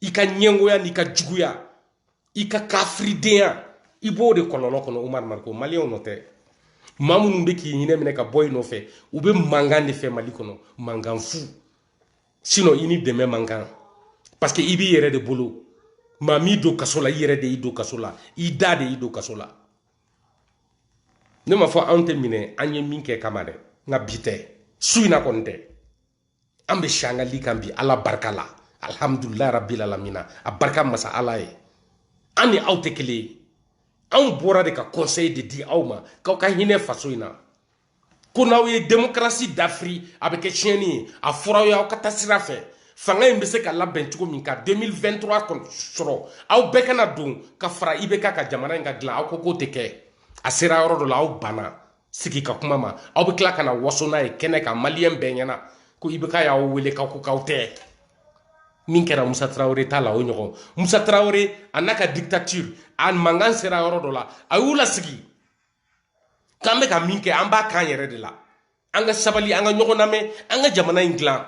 i ka ɲɛngoya n'i ka juguya i ka kafiridenya i b'o de kɔlɔlɔ kɔnɔ umar mariko maliyɛnw nɔ tɛ maa minnu bɛ k'i ɲinɛ minɛ ka bɔ i nɔfɛ u bɛ mankan de fɛ mali kɔnɔ mankan fu sinon i ni dɛmɛ man kan parce que i b'i yɛrɛ de bolo maa m'i don kaso la i yɛrɛ de y'i don kaso la i da de y'i don kaso la ne m'a fɔ anw tɛ minɛ an ye min kɛ kama dɛ nka bi tɛ su in na kɔni tɛ an bɛ si an ka li kan bi ala barika la alhamdulilayi rabbil alamina a barika masa ala ye an ni aw tɛ kelen ye anw bɔra de ka conseil de di aw ma k'aw ka hinɛ faso in na ko n'aw ye demokarasi dafiri a bɛ kɛ tiɲɛni ye a fɔra aw ye aw ka taa sira fɛ fanga in bɛ se ka labɛn cogo min ka 2023 sɔrɔ aw bɛɛ ka na don ka fara ibk kan jamana in ka dilan aw ko k'o tɛ kɛ a sera yɔrɔ dɔ la aw banna sigi ka kuma ma aw bɛ tila ka na waso n'a ye kɛnɛ kan maliyɛn bɛɛ ɲɛna ko IBK y'aw wele k'aw ko k'aw tɛ min kɛra musa tarawele t'a la o ɲɔgɔn musa tarawele a n'a ka dictature a mankan sera yɔrɔ dɔ la a y'u lasigi k'an bɛ ka min kɛ an b'a k'an yɛrɛ de la an ka sabali an ka ɲɔgɔn lamɛn an ka jamana in dilan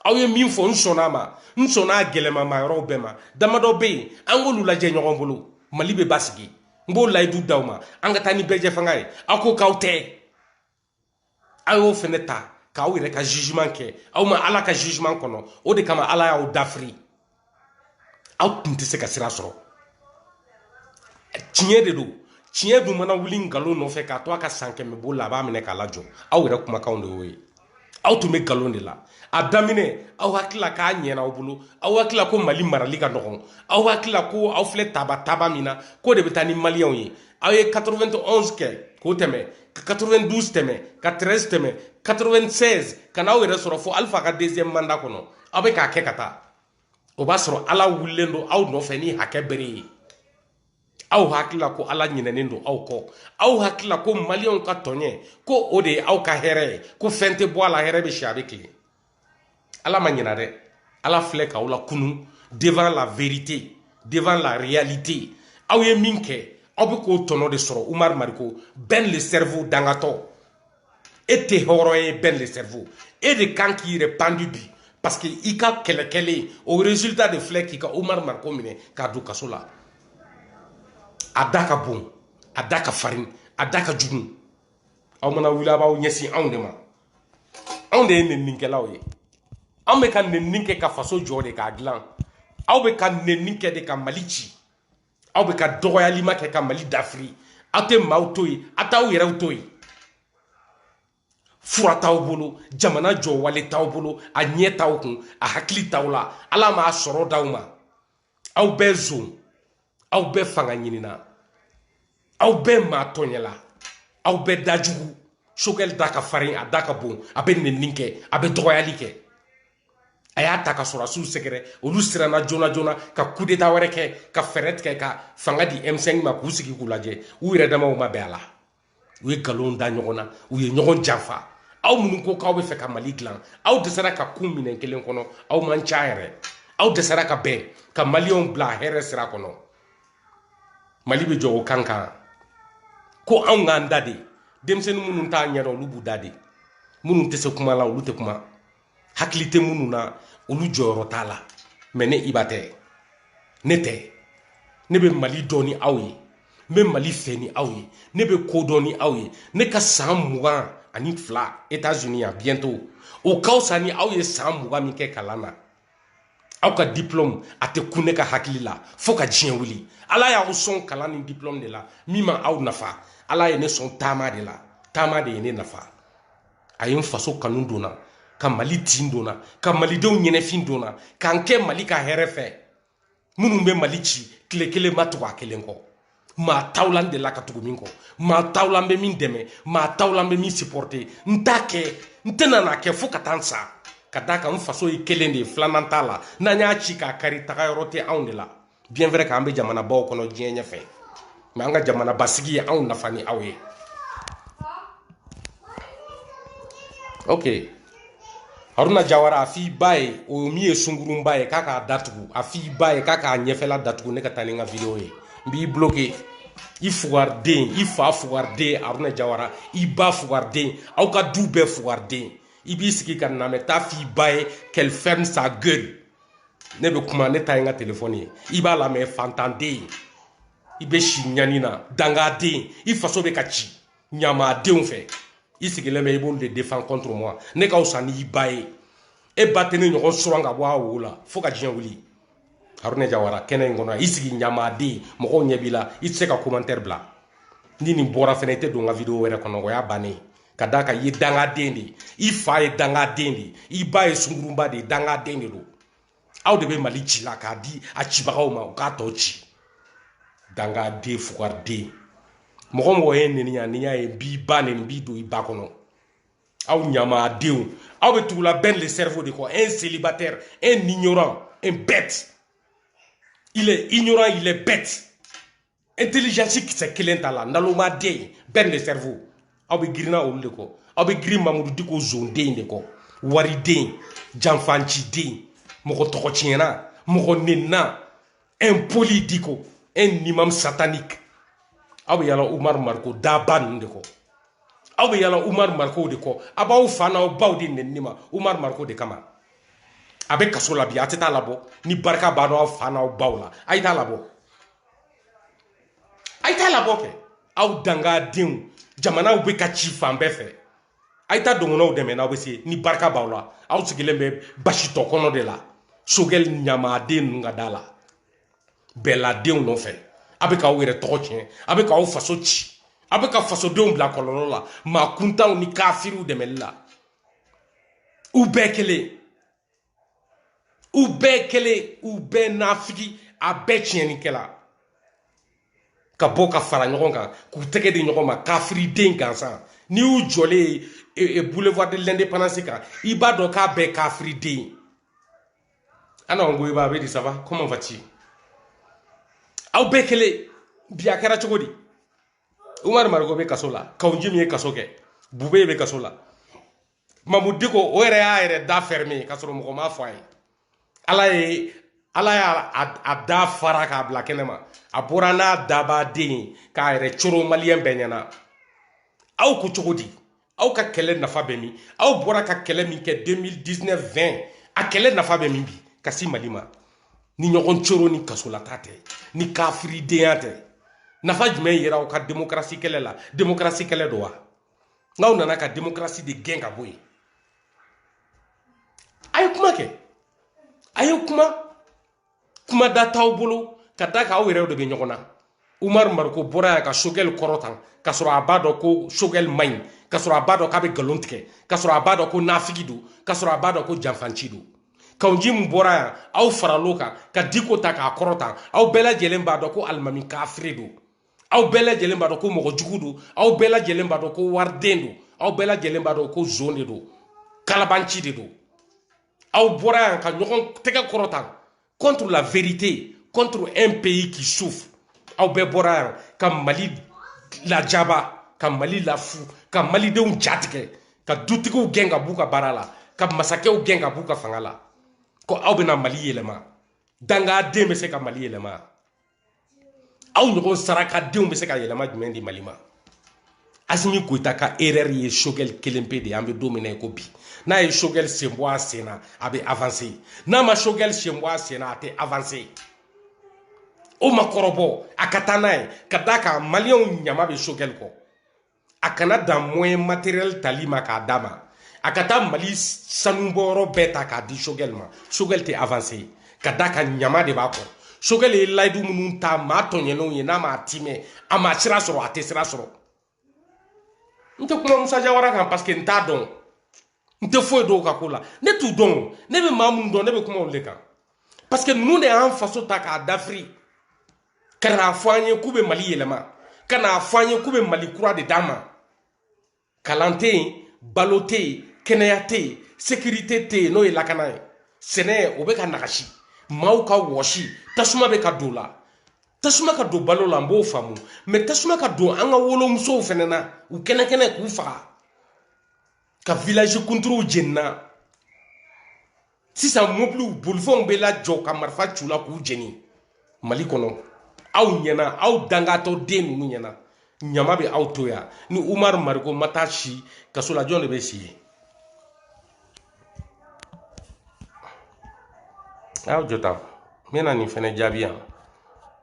aw ye min fɔ n sɔnna a ma n sɔnna a gɛlɛmama yɔrɔw bɛɛ ma damadɔ bɛ yen an k'olu lajɛ ɲɔgɔn bolo mali bɛ basigi n b'o layidu d'aw ma an ka taa ni bɛɛjɛ fanga ye aw ko k'aw tɛ aw y'o fɛnɛ ta k'aw yɛrɛ ka jugement kɛ aw ma ala ka jugement kɔnɔ o de kama ala y'aw dafiri aw tun tɛ se ka sira sɔrɔ tiɲɛ de don tiɲɛ dun mana wuli nkalon nɔfɛ k'a to a ka san kɛmɛ boli la a b'a minɛ k'a lajɔ aw yɛrɛ kumakanw de y'o ye aw tun bɛ nkalon de la a daminɛ aw hakilila k'a ɲɛna aw bolo aw hakilila ko mali marali ka nɔgɔn aw hakilila ko aw filɛ taba taba min na k'o de bɛ taa ni maliyɛnw ye aw ye 91 kɛ k'o tɛmɛ ka 92 tɛmɛ ka 13 tɛmɛ 96 ka n'aw yɛrɛ sɔrɔ fo alifa ka deuxième mandat kɔnɔ aw bɛ k'a kɛ ka taa o b'a sɔrɔ ala wulilen don aw nɔfɛ ni hakɛ bere ye aw hakilila ko ala ɲinɛnen don aw kɔ aw hakilila ko maliyɛnw ka tɔɲɛ ko o de ye aw ka hɛrɛ ye ko fɛn tɛ bɔ a la hɛrɛ bɛ si a bɛ tilen ala ma ɲina dɛ ala filɛ k'aw lakunu devant la vérité devant la réalité aw ye min kɛ aw bɛ k'o tɔnɔ de sɔrɔ umaru mariko ben le cerveau dangatɔ e tɛ hɔrɔn ye ben le cerveau e de kan k'i yɛrɛ pandu bi parce que i ka kɛlɛ kɛlen o résultat de filɛ k'i ka Omar Mariko minɛ k'a don kaso la a da ka bon a da ka farin a da ka jugu aw mana wuli a b'aw ɲɛsin anw de ma anw de ye neninikɛlaw ye anw bɛ ka nenini kɛ ka faso jɔ de k'a dilan aw bɛ ka nenini kɛ de ka mali ci aw bɛ ka dɔgɔyalima kɛ ka mali dafiri aw tɛ maaw to yen aw t'aw yɛrɛw to yen fura t'aw bolo jamana jɔwale t'aw bolo a ɲɛ t'aw kun a hakili t'aw la ala m'a sɔrɔ d'aw ma aw bɛɛ zon aw bɛɛ fanga ɲinina aw bɛɛ maa tɔɲɛla aw bɛɛ dajugu Choguel da ka farin a da ka bon a bɛ nenini kɛ a bɛ dɔgɔyali kɛ a y'a ta ka sɔrɔdasiw sɛgɛrɛ olu siranna joona joona ka kudeta wɛrɛ kɛ ka fɛɛrɛ tigɛ ka fanga di m5 ma k'u sigi k'u lajɛ u yɛrɛ damaw ma bɛn a la u ye nkalonw da ɲɔgɔn na u ye ɲɔgɔn janfa aw minnu ko k'aw bɛ fɛ ka mali dilan aw dɛsɛra ka kun minɛn kelen kɔnɔ aw man ca yɛrɛ aw dɛsɛra ka bɛn ka maliyɛnw bila hɛrɛ sira kɔnɔ mali bɛ jɔ o kan kan ko anw k'an da de denmisɛnnin minnu t'a ɲɛdɔn olu b'u da de minnu tɛ se kuma la olu tɛ kuma hakili tɛ minnu na olu jɔyɔrɔ t'a la mais ne iba tɛ ne tɛ ne bɛ mali dɔn ni aw ye n bɛ mali fɛ ni aw ye ne bɛ ko dɔn ni aw ye ne ka san mugan ani fila états-unis yan bientôt o ka fisa ni aw ye san mugan min kɛ kalan na aw ka diplôme a tɛ kun ne ka hakili la fo ka diɲɛ wuli ala y'aw sɔn kalan ni diplôme de la min ma aw nafa ala ye ne sɔn taama de la taama de ye ne nafa a ye n faso kanu don n na ka mali tin don n na ka malidenw ɲɛnafin don n na ka n kɛ mali ka hɛrɛ fɛ minnu bɛ mali ci tile kelen n ma tugu a kelen kɔ maa t'aw la n delila ka tugu min kɔ maa t'aw la n bɛ min dɛmɛ maa t'aw la n bɛ min supporter n t'a kɛ n tɛna n'a kɛ fo ka taa n sa ka d'a kan n faso ye kelen de ye filanan t'a la n'an y'a ci k'a kari tagayɔrɔ tɛ anw de la bien vrai k'an bɛ jamanabaw kɔnɔ diɲɛ ɲɛfɛ mais an ka jamana basigi ye anw nafa ni aw ye ok haruna jawara a f'i ba ye o min ye sungurunba ye k'a k'a da tugu a f'i ba ye k'a k'a ɲɛfɛla datugu ne ka taa ni n ka vidéo ye n b'i bloquer i fugariden i fa fugariden haruna jawara i ba fugariden aw ka du bɛɛ fugariden i b'i sigi ka n lamɛn taa f'i ba ye qu'elle ferme sa gueule ne bɛ kuma ne ta ye n ka téléphone ye i b'a lamɛn fantanden i bɛ si ɲani na dangaden i faso bɛ ka ci ɲamadenw fɛ i sigilen bɛ i b'olu de défend contre moi ne ka fisa n'i ba ye e ba tɛ ne ɲɔgɔn suran ka bɔ a wo la fo ka diɲɛ wuli haruna jawara kɛnɛ in kɔnɔ i sigi ɲamaden mɔgɔw ɲɛ b'i la i tɛ se ka commentaire bila ni nin bɔra fɛnɛ i tɛ don n ka vidéo wɛrɛ kɔnɔ o y'a bannen ye ka d'a kan i ye dangaden de ye i fa ye dangaden de ye i ba ye sungurunba de ye dangaden de don aw de bɛ mali ci la k'a di a cibagaw ma u k'a tɔ ci dangaden fugariden mɔgɔ o mɔgɔ ye n neni yan ni n y'a ye n b'i ba neni n b'i don i ba kɔnɔ aw ɲamadenw aw bɛ tugula ben le cerveau de kɔ un célibataire un ignorant un bête il est ignorant il est bête intelligence kisɛ kelen t'a la nalomaden ben le cerveau aw bɛ girinna olu de kɔ aw bɛ girin mamudu diko zonden de kɔ wariden janfanciden mɔgɔ tɔgɔ tiɲɛna mɔgɔ nenina impoli diko un imam satanique aw bɛ yala umaru mariko daba ninnu de kɔ aw bɛ yala umaru marikow de kɔ a b'aw fa n'aw baw de neni na umaru mariko de kama a bɛ kaso la bi a tɛ t'a labɔ ni barika b'a dɔn aw fa n'aw baw la a ye t'a labɔ a ye taa labɔ kɛ aw dangadenw jamanaw bɛ ka ci fan bɛɛ fɛ a ye taa dɔgɔnɔw dɛmɛ n'aw bɛ se ni barika b'aw la aw sigilen bɛ basi tɔ kɔnɔ de la sogɛli ɲamaden ninnu ka da la bɛladenw nɔfɛ a bɛ k'aw yɛrɛ tɔgɔ tiɲɛ a bɛ k'aw faso ci a bɛ ka fasodenw bila kɔlɔlɔ la maa kuntanw ni kafiriw dɛmɛli la u bɛɛ kelen u bɛɛ kelen u bɛɛ nafigi a bɛɛ tiɲɛnikɛla ka bɔ ka fara ɲɔgɔn kan k'u tɛgɛ di ɲɔgɔn ma kafiriden gansan n'i y'u jɔlen ye boulevard de l'indépendance kan i b'a dɔn k'a bɛɛ kafiriden ye ana ko i b'a bɛ di ça va comment vas-tu aw bɛɛ kelen bi a kɛra cogo di umaru mariko bɛ kaso la kawu njim ye kaso kɛ bube bɛ kaso la mamu diko o yɛrɛ y'a yɛrɛ da fɛrɛme ka sɔrɔ mɔgɔ m'a fɔ a ye ala ye ala y'a da fara k'a bila kɛnɛ ma a bɔra n'a dabaden ye k'a yɛrɛ coro maliyɛn bɛɛ ɲɛna aw ko cogo di aw ka kɛlɛ nafa bɛ min aw bɔra ka kɛlɛ min kɛ 2019 20 a kɛlɛ nafa bɛ min bi ka sin mali ma ni ɲɔgɔn coro ni kasolataa tɛ ni kafiridenya tɛ nafa jumɛn yera aw ka demokarasi kɛlɛ la demokarasi kɛlɛ don wa n'aw nana ka demokarasi de gɛn ka bɔ yen a ye kuma kɛ a ye kuma kuma da t'aw bolo ka da k'aw yɛrɛw de bɛ ɲɔgɔn na umaru mariko bɔra yan ka sogɛli kɔrɔta k'a sɔrɔ a b'a dɔn ko sogɛli man ɲi k'a sɔrɔ a b'a dɔn k'a bɛ nkalon tigɛ k'a sɔrɔ a b'a dɔn ko nafigi don k'a sɔrɔ a b'a dɔn ko janfanci don kawu njim bɔra yan aw faral'o kan ka diko ta k'a kɔrɔta aw bɛɛ lajɛlen b'a dɔn ko alimami kafiri don aw bɛɛ lajɛlen b'a dɔn ko mɔgɔ jugu don aw bɛɛ lajɛlen b'a dɔn ko wariden don aw bɛɛ lajɛlen b'a dɔn ko zon de don kalabanci de don aw bɔra yan ka ɲɔgɔn tɛgɛ kɔrɔta contre la vérité contre un pays qui souffre aw bɛɛ bɔra yan ka mali lajaba ka mali lafu ka malidenw jatigɛ ka dutigiw gɛn ka b'u ka baara la ka masakɛw gɛn ka b'u ka fanga la ko aw bɛna mali yɛlɛma dangaden bɛ se ka mali yɛlɛma aw ɲɔgɔn sarakadenw bɛ se ka yɛlɛma jumɛn di mali ma asimi goyita ka erreur ye sogɛli kelen pe de an bɛ don min na i ko bi n'a ye sogɛli sen bɔ a sen na a bɛ avancer n'a ma sogɛli sen bɔ a sen na a tɛ avancer o ma kɔrɔbɔ a ka taa n'a ye ka d'a kan maliyɛnw ɲama bɛ sogɛli kɔ a kana dan moyen matériel tali ma k'a d'a ma a ka taa mali sanubɔyɔrɔ bɛɛ ta k'a di sogɛl ma sogɛl tɛ avancer ka d'a kan ɲama de b'a kɔ sogɛl ye layidu minnu ta maa tɔɲɛnenw ye n'a m'a timɛ a ma sira sɔrɔ a tɛ sira sɔrɔ n tɛ kuma musa jawara kan parce que n t'a dɔn n tɛ foyi dɔn u ka ko la ne t'u dɔn o ne bɛ maa minnu dɔn ne bɛ kuma olu de kan parce que ninnu de y'an faso ta k'a dafiri ka n'a fɔ an ye k'u bɛ mali yɛlɛma ka n'a fɔ an ye k'u bɛ mali kura de d'an ma kalan tɛ yen balo tɛ yen kɛnɛya tɛ yen sécurité tɛ yen n'o ye lakana ye sɛnɛ o bɛ ka nagasi maaw ka wɔsi tasuma bɛ ka don o la tasuma ka don balo la an b'o faamu mais tasuma ka don an ka wolomusow fɛnɛ na u kɛnɛ kɛnɛ k'u faga ka village kunturuw jenina sisan mobiliw bolifɛnw bɛ lajɔ ka marifa c'u la k'u jeni mali kɔnɔ aw ɲɛna aw dangatɔ den ninnu ɲɛna ɲama bɛ aw to yan ni umar mariko ma taa si kaso la jɔn de bɛ si yen a y'aw jɔ tan n bɛna nin fɛnɛ jaabi yan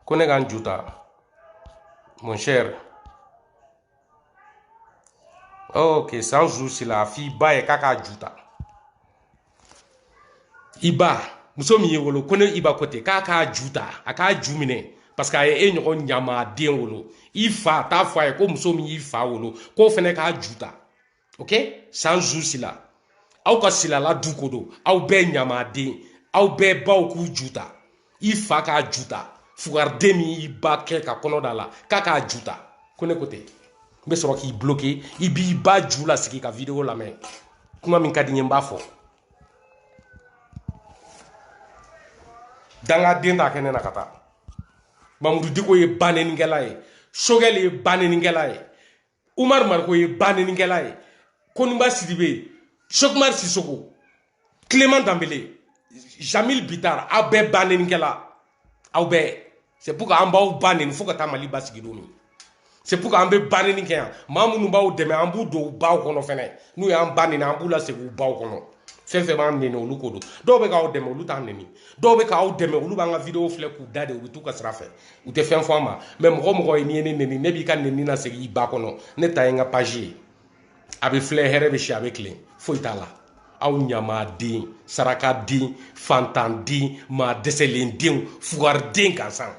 ko ne ka n ju ta mon cher ok sanzu sila a f'i ba ye k'a k'a ju ta i ba muso min y'i wolo ko ne i ba ko ten k'a k'a ju ta a k'a ju minɛ parce que a ye e ɲɔgɔn ɲamaden wolo i fa t'a fɔ a ye ko muso min y'i fa wolo k'o fɛnɛ k'a ju ta ok sanzu sila aw ka silala du ko don aw bɛɛ ɲamaden aw bɛɛ baw k'u ju ta i fa k'a ju ta fugariden min y'i ba kɛ ka kɔnɔ da la k'a k'a ju ta ko ne ko ten n bɛ sɔrɔ k'i bloquer i b'i ba ju lasigi ka video lamɛn kuma min ka di n ye n b'a fɔ dangaden t'a kɛ ne na ka taa mamudu diko ye banenikɛla ye sogɛli ye banenikɛla ye umar mariko ye banenikɛla ye koniba sidibe sekumar sisoko clément danbele jamil bitar aw bɛɛ banenikɛla aw bɛɛ c'est pour que an b'aw ba neni fo ka taa mali basigi don min c'est pour que an bɛ baneni kɛ yan maa minnu b'aw dɛmɛ an b'u don u baw kɔnɔ fɛnɛ n'u y'an ba neni an b'u lasegin u baw kɔnɔ fɛn fɛn b'an neni olu ko don dɔw bɛ k'aw dɛmɛ olu t'an neni dɔw bɛ k'aw dɛmɛ olu b'an ka video filɛ k'u da de u bɛ t'u ka sira fɛ u tɛ fɛn fɔ an ma mais mɔgɔ o mɔgɔ ye n'i ye ne neni ne b'i ka neni lasegin i ba kɔnɔ ne ta ye n ka page ye a bɛ filɛ hɛrɛ bɛ si a bɛ tilen foyi t'a la aw ɲamaden sarakaden fantanden maa dɛsɛlen denw fugariden gansan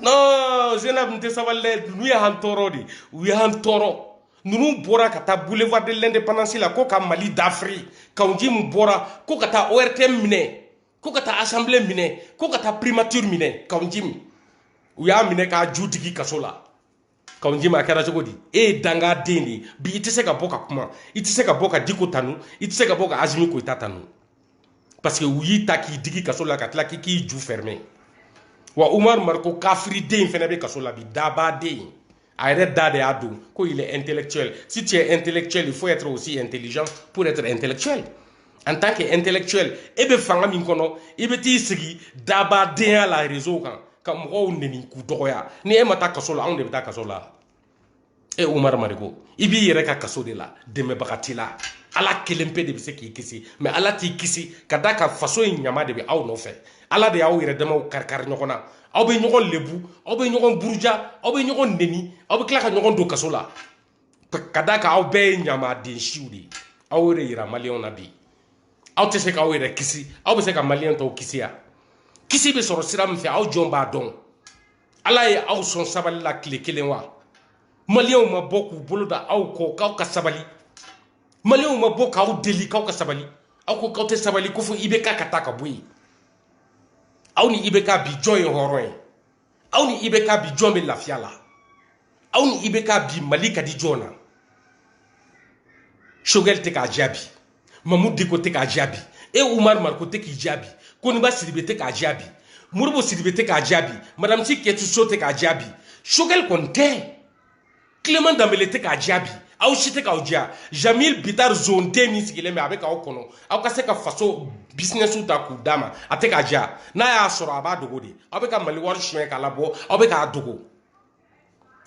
non zenab n tɛ sabali dɛ ninnu ye an tɔɔrɔ de u ye an tɔɔrɔ ninnu bɔra ka taa boulevard de l'indépendance la ko ka mali dafiri kawu njimi bɔra ko ka taa ortm minɛ ko ka taa assemblée minɛ ko ka taa primature minɛ kawu njimi u y'a minɛ k'a ju digi kaso la kawu njimi a kɛra cogo di e ye dangaden de ye bi i tɛ se ka bɔ ka kuma i tɛ se ka bɔ ka diko tanu i tɛ se ka bɔ ka azimi koyita tanu parce que u y'i ta k'i digi kaso la ka tila k'i k'i ju fermer wa umaru mariko kafiriden fɛnɛ bɛ kaso la bi dabaden A yɛrɛ da de y'a don ko il est intellectuel si tu es intellectuel il faut être aussi intelligent pour être intellectuel en tant que intellectuel e bɛ fanga min kɔnɔ i bɛ t'i sigi dabadenya la réseau kan ka mɔgɔw neni k'u dɔgɔya ni e ma taa kaso la anw de bɛ taa kaso la e Umaru Mariko i b'i yɛrɛ ka kaso de la dɛmɛbaga t'i la ala kelen pe de bɛ se k'i kisi mais ala t'i kisi ka d'a kan faso in ɲama de bɛ aw nɔfɛ ala de y'aw yɛrɛ damaw karikari ɲɔgɔn na aw bɛ ɲɔgɔn lebu aw bɛ ɲɔgɔn buruja aw bɛ ɲɔgɔn neni aw bɛ tila ka ɲɔgɔn don kaso la ka d'a kan aw bɛɛ ye ɲamaden siw de ye aw y'o de yira maliyɛnw na bi aw tɛ se k'aw yɛrɛ kisi aw bɛ se ka maliyɛn tɔw kisi wa kisi bɛ sɔrɔ sira min fɛ aw jɔn b'a dɔn ala ye aw sɔn sabali la tile kelen wa maliyɛnw ma bɔ k'u bolo da aw kɔ k'aw ka sabali maliyɛnw ma bɔ k'aw deli k'aw ka sabali aw ko k'aw tɛ sabali ko fo IBK ka taa ka bɔ yen aw ni IBK bi jɔn ye hɔrɔn ye aw ni IBK bi jɔn bɛ lafiya la aw ni IBK bi mali ka di jɔn na choguel tɛ k'a diya bi mamu diko tɛ k'a diya bi e umaru mariko tɛ k'i diya bi koniba sidibe tɛ k'a diya bi modibo sidibe tɛ k'a diya bi madame si kajatu so tɛ k'a diya bi choguel kɔni tɛ clement danbele tɛ k'a diya bi aw si tɛ k'aw diya jamil bitar zonden min sigilen bɛ a bɛ k'aw kɔnɔ aw ka se ka faso bisinɛsiw ta k'u d'a ma a tɛ k'a diya n'a y'a sɔrɔ a b'a dogo de aw bɛ ka mali wari suɲɛ k'a labɔ aw bɛ k'a dogo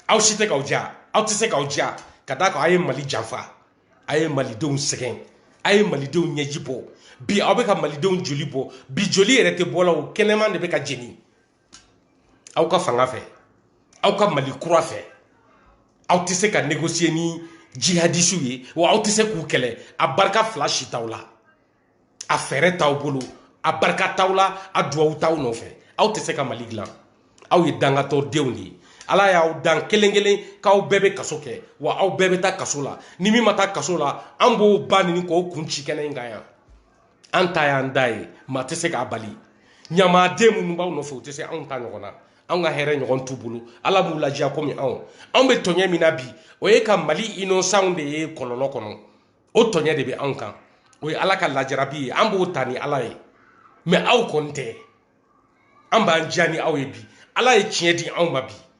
aw si tɛ k'aw diya aw tɛ se k'aw diya ka d'a kan a ye mali janfa a ye malidenw sɛgɛn a ye malidenw ɲɛji bɔ bi aw bɛ ka malidenw joli bɔ bi joli yɛrɛ tɛ bɔ la u kɛnɛman de bɛ ka jeni aw ka fanga fɛ aw ka mali kura fɛ aw tɛ se ka négocier ni jihadisiw ye wa aw tɛ se k'u kɛlɛ a barika fila si t'aw la a fɛɛrɛ t'aw bolo a barika t'aw la a duwawu t'aw nɔfɛ aw tɛ se ka mali dilan aw ye dangatɔ denw de ye ala y'aw dan kelen kelen k'aw bɛɛ bɛ kaso kɛ wa aw bɛɛ bɛ taa kaso la ni min ma taa kaso la an b'o ba neni k'o kun ci kɛnɛ in kan yan an ta y'an da ye maa tɛ se k'a bali ɲamaden minnu b'aw nɔfɛ u tɛ se anw ta ɲɔgɔn na anw ka hɛrɛ ɲɔgɔn t'u bolo ala m'u lajiya komi anw anw bɛ tɔɲɛ min na bi o ye ka mali inosanw de ye kɔlɔlɔ kɔnɔ o tɔɲɛ de bɛ anw kan o ye ala ka lajarabi ye an b'o ta ni ala ye mais aw kɔni tɛ an b'an diya ni aw ye bi ala ye tiɲɛ di anw ma bi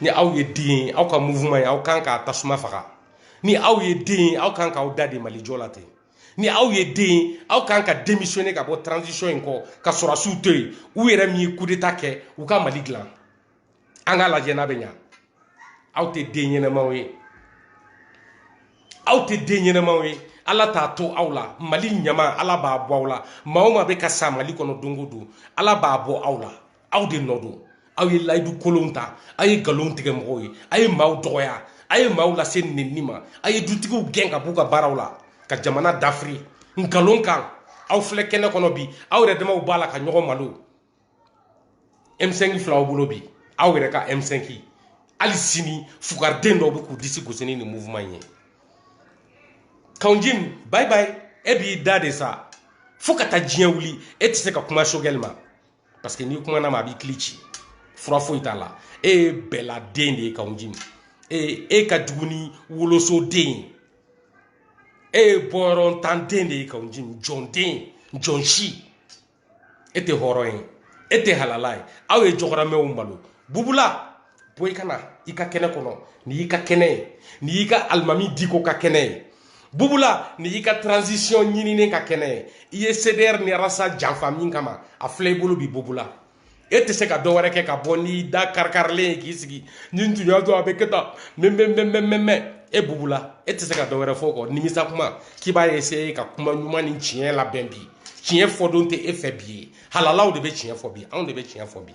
ni aw ye den ye aw ka mouvement ye aw kan k'a tasuma faga ni aw ye den ye aw kan k'aw da de mali jɔ la ten ni aw ye den ye aw kan ka démissionner ka bɔ transition in kɔ ka sɔrɔdasiw to yen u yɛrɛ min ye coup d'état kɛ u ka mali dilan an k'a lajɛ n'a bɛ ɲa aw tɛ den ɲɛnamaw ye aw tɛ den ɲɛnamaw ye ala t'a to aw la mali ɲama ala b'a bɔ aw la maa o maa bɛ ka sa mali kɔnɔ don o don ala b'a bɔ aw la aw de nɔ don aw ye layidu kolonw ta aw ye nkalon tigɛ mɔgɔw ye aw ye maaw dɔgɔya aw ye maaw lase nenni ma aw ye dutigiw gɛn ka b'u ka baaraw la ka jamana dafiri nkalon kan aw filɛ kɛnɛ kɔnɔ bi aw yɛrɛ damaw b'a la ka ɲɔgɔn malo m5 filaw bolo bi aw yɛrɛ ka m5 hali sini fugariden dɔw bɛ k'u disi gosi ni nin mouvement ye kawunjim bye bye e b'i da de sa fo ka taa diɲɛ wuli e tɛ se ka kuma sogɛli ma parce que n'i kumana ma a b'i kili ci fura foyi t'a la e ye beladen de ye kawunjim e ka jugu ni wolosoden ye e ye bɔyɔrɔntanden de ye kawunjim jɔnden jɔn si e tɛ hɔrɔn ye e tɛ halala ye aw ye jɔgɔramɛw malo bubula boli ka na i ka kɛnɛ kɔnɔ nin y'i ka kɛnɛ ye nin y'i ka alimami diko ka kɛnɛ ye bubula nin y'i ka transition ɲinini ka kɛnɛ ye i ye cdr ni rasta janfa min kama a filɛ i bolo bi bubula e tɛ se ka dɔ wɛrɛ kɛ ka bɔ n'i da karikarilen ye k'i sigi ni n tun y'a dɔn a bɛ kɛ tan mɛmɛmɛmɛmɛ e bubula e tɛ se ka dɔ wɛrɛ fɔ o kɔ nimisa kuma k'i b'a essayer ka kuma ɲuman ni tiɲɛ labɛn bi tiɲɛ fɔdon tɛ e fɛ bi ye halalaw de bɛ tiɲɛ fɔ bi anw de bɛ tiɲɛ fɔ bi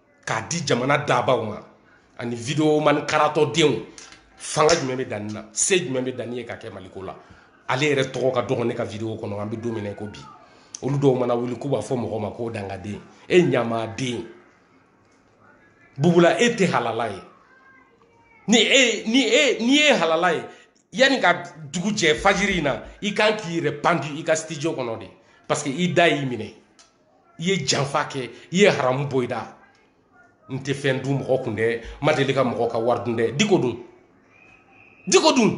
k'a di jamana dabaw ma ani video man karatɔ denw fanga jumɛn bɛ dani na se jumɛn bɛ dani ye ka kɛ maliko la ale yɛrɛ tɔgɔ ka dɔgɔ ne ka video kɔnɔ an bɛ don min na i ko bi olu dɔw mana wuli k'u b'a fɔ mɔgɔ ma ko dangaden e ɲamaden bubula e tɛ halala ye ni e ni e ni e ye halala ye yanni ka dugu jɛ fajiri in na i kan k'i yɛrɛ pandi i ka studio kɔnɔ de parce que i da y'i minɛ i ye janfa kɛ i ye haramu bɔ i da n tɛ fɛn dun mɔgɔ kun dɛ n ma deli ka mɔgɔ ka wari dun dɛ diko dun diko dun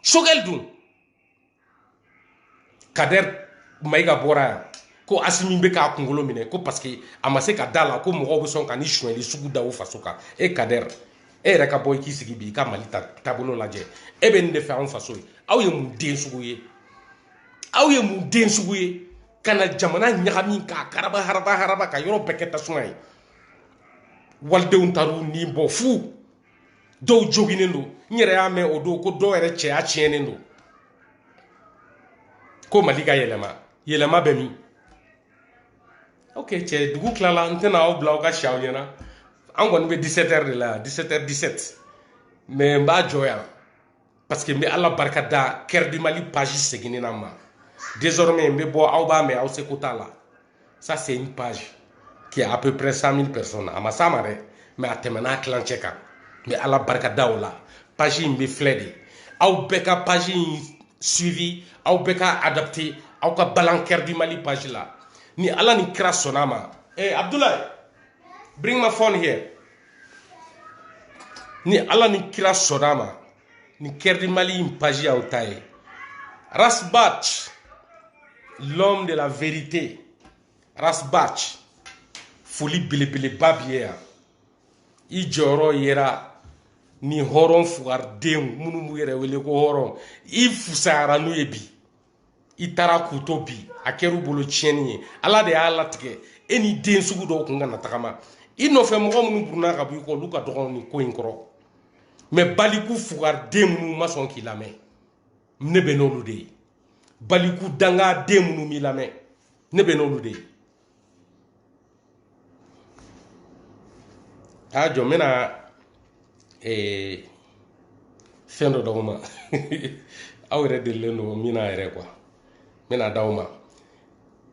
sogɛli dun kadɛri mayiga bɔra yan ko asimi bɛ k'a kunkolo minɛ ko parce que a ma se ka da la ko mɔgɔw bɛ sɔn ka nin sonyɛli sugu da u faso kan e kadɛri e yɛrɛ ka bɔ i k'i sigi bi i ka mali taabolo lajɛ e bɛ nin de fɛ anw faso ye aw ye mun den sugu ye aw ye mun den sugu ye ka na jamana ɲagami k'a karaba haraba haraba ka yɔrɔ bɛɛ kɛ tasuma ye walidenw taar'u ni bɔ fu dɔw joginen don n yɛrɛ y'a mɛn o don ko dɔw yɛrɛ cɛya tiɲɛnen don ko mali ka yɛlɛma yɛlɛma bɛ min ok cɛ dugu tilala n tɛna aw bila aw ka si aw ɲɛ na an kɔni bɛ 17 heures de la yan 17 heures 17 mais n b'a jɔ yan parce que n bɛ ala barika da cœur du mali page seginni na n ma désormais n bɛ bɔ aw b'a mɛn aw seko t'a la ça c'est une page qui a à peu près 100 000 personnes a ma s'a ma dɛ mais a tɛmɛna a tilancɛ kan n bɛ ala barika da o la page in bɛ filɛ de aw bɛɛ ka page in suivi aw bɛɛ ka adapté aw ka balan cœur du mali page la ni ala ni kira sɔnna a ma eh abdoulaye bring my phone here ni ala ni kira sɔnna a ma ni cœur du mali in page y'aw ta ye ras bath l'homme de la vérité ras bath foli belebeleba b'i ye yan i jɔyɔrɔ yera ni hɔrɔn fugaridenw minnu b'u yɛrɛ wele ko hɔrɔn i fusayara n'u ye bi i taara k'u to bi a kɛr'u bolo tiɲɛni ye ala de y'a latigɛ e ni den sugu dɔw kun kana tagama i nɔfɛ mɔgɔ minnu burunna ka bɔ i kɔ olu ka dɔgɔ nin ko in kɔrɔ mais baliku fugariden minnu ma sɔn k'i lamɛn ne bɛ n'olu de ye baliku dangaden minnu m'i lamɛn ne bɛ n'olu de ye a jɔ n bɛna ee fɛn dɔ d'aw ma aw yɛrɛ delilen don min na yɛrɛ quoi n bɛn'a d'aw ma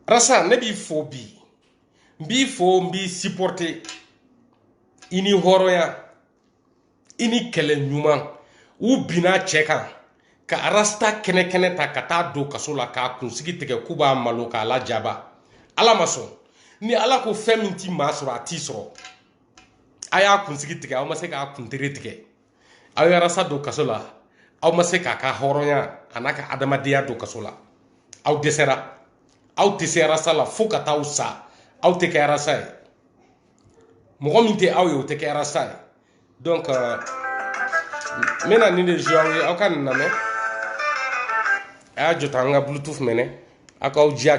rasta ne b'i fo bi n b'i fo n b'i supporter i ni hɔrɔnya i ni kɛlɛ ɲuman u binna cɛ kan ka rasta kɛnɛ kɛnɛ ta ka taa don kaso la k'a kunsigi tigɛ k'u b'a malo k'a lajaba ala ma sɔn ni ala ko fɛn min ti maa sɔrɔ a t'i sɔrɔ a y'a kunsigi tigɛ aw ma se k'a kuntere tigɛ aw ye rasta don kaso la aw ma se k'a ka hɔrɔnya a n'a ka adamadenya don kaso la aw dɛsɛra aw tɛ se rasta la fo ka taa aw sa aw tɛ kɛ rasta ye mɔgɔ min tɛ aw ye o tɛ kɛ rasta ye donc euh, n bɛna nin de joué aw ye aw ka nin lamɛn a y'a jɔ tan an ka bluetooth minɛ aw k'aw jija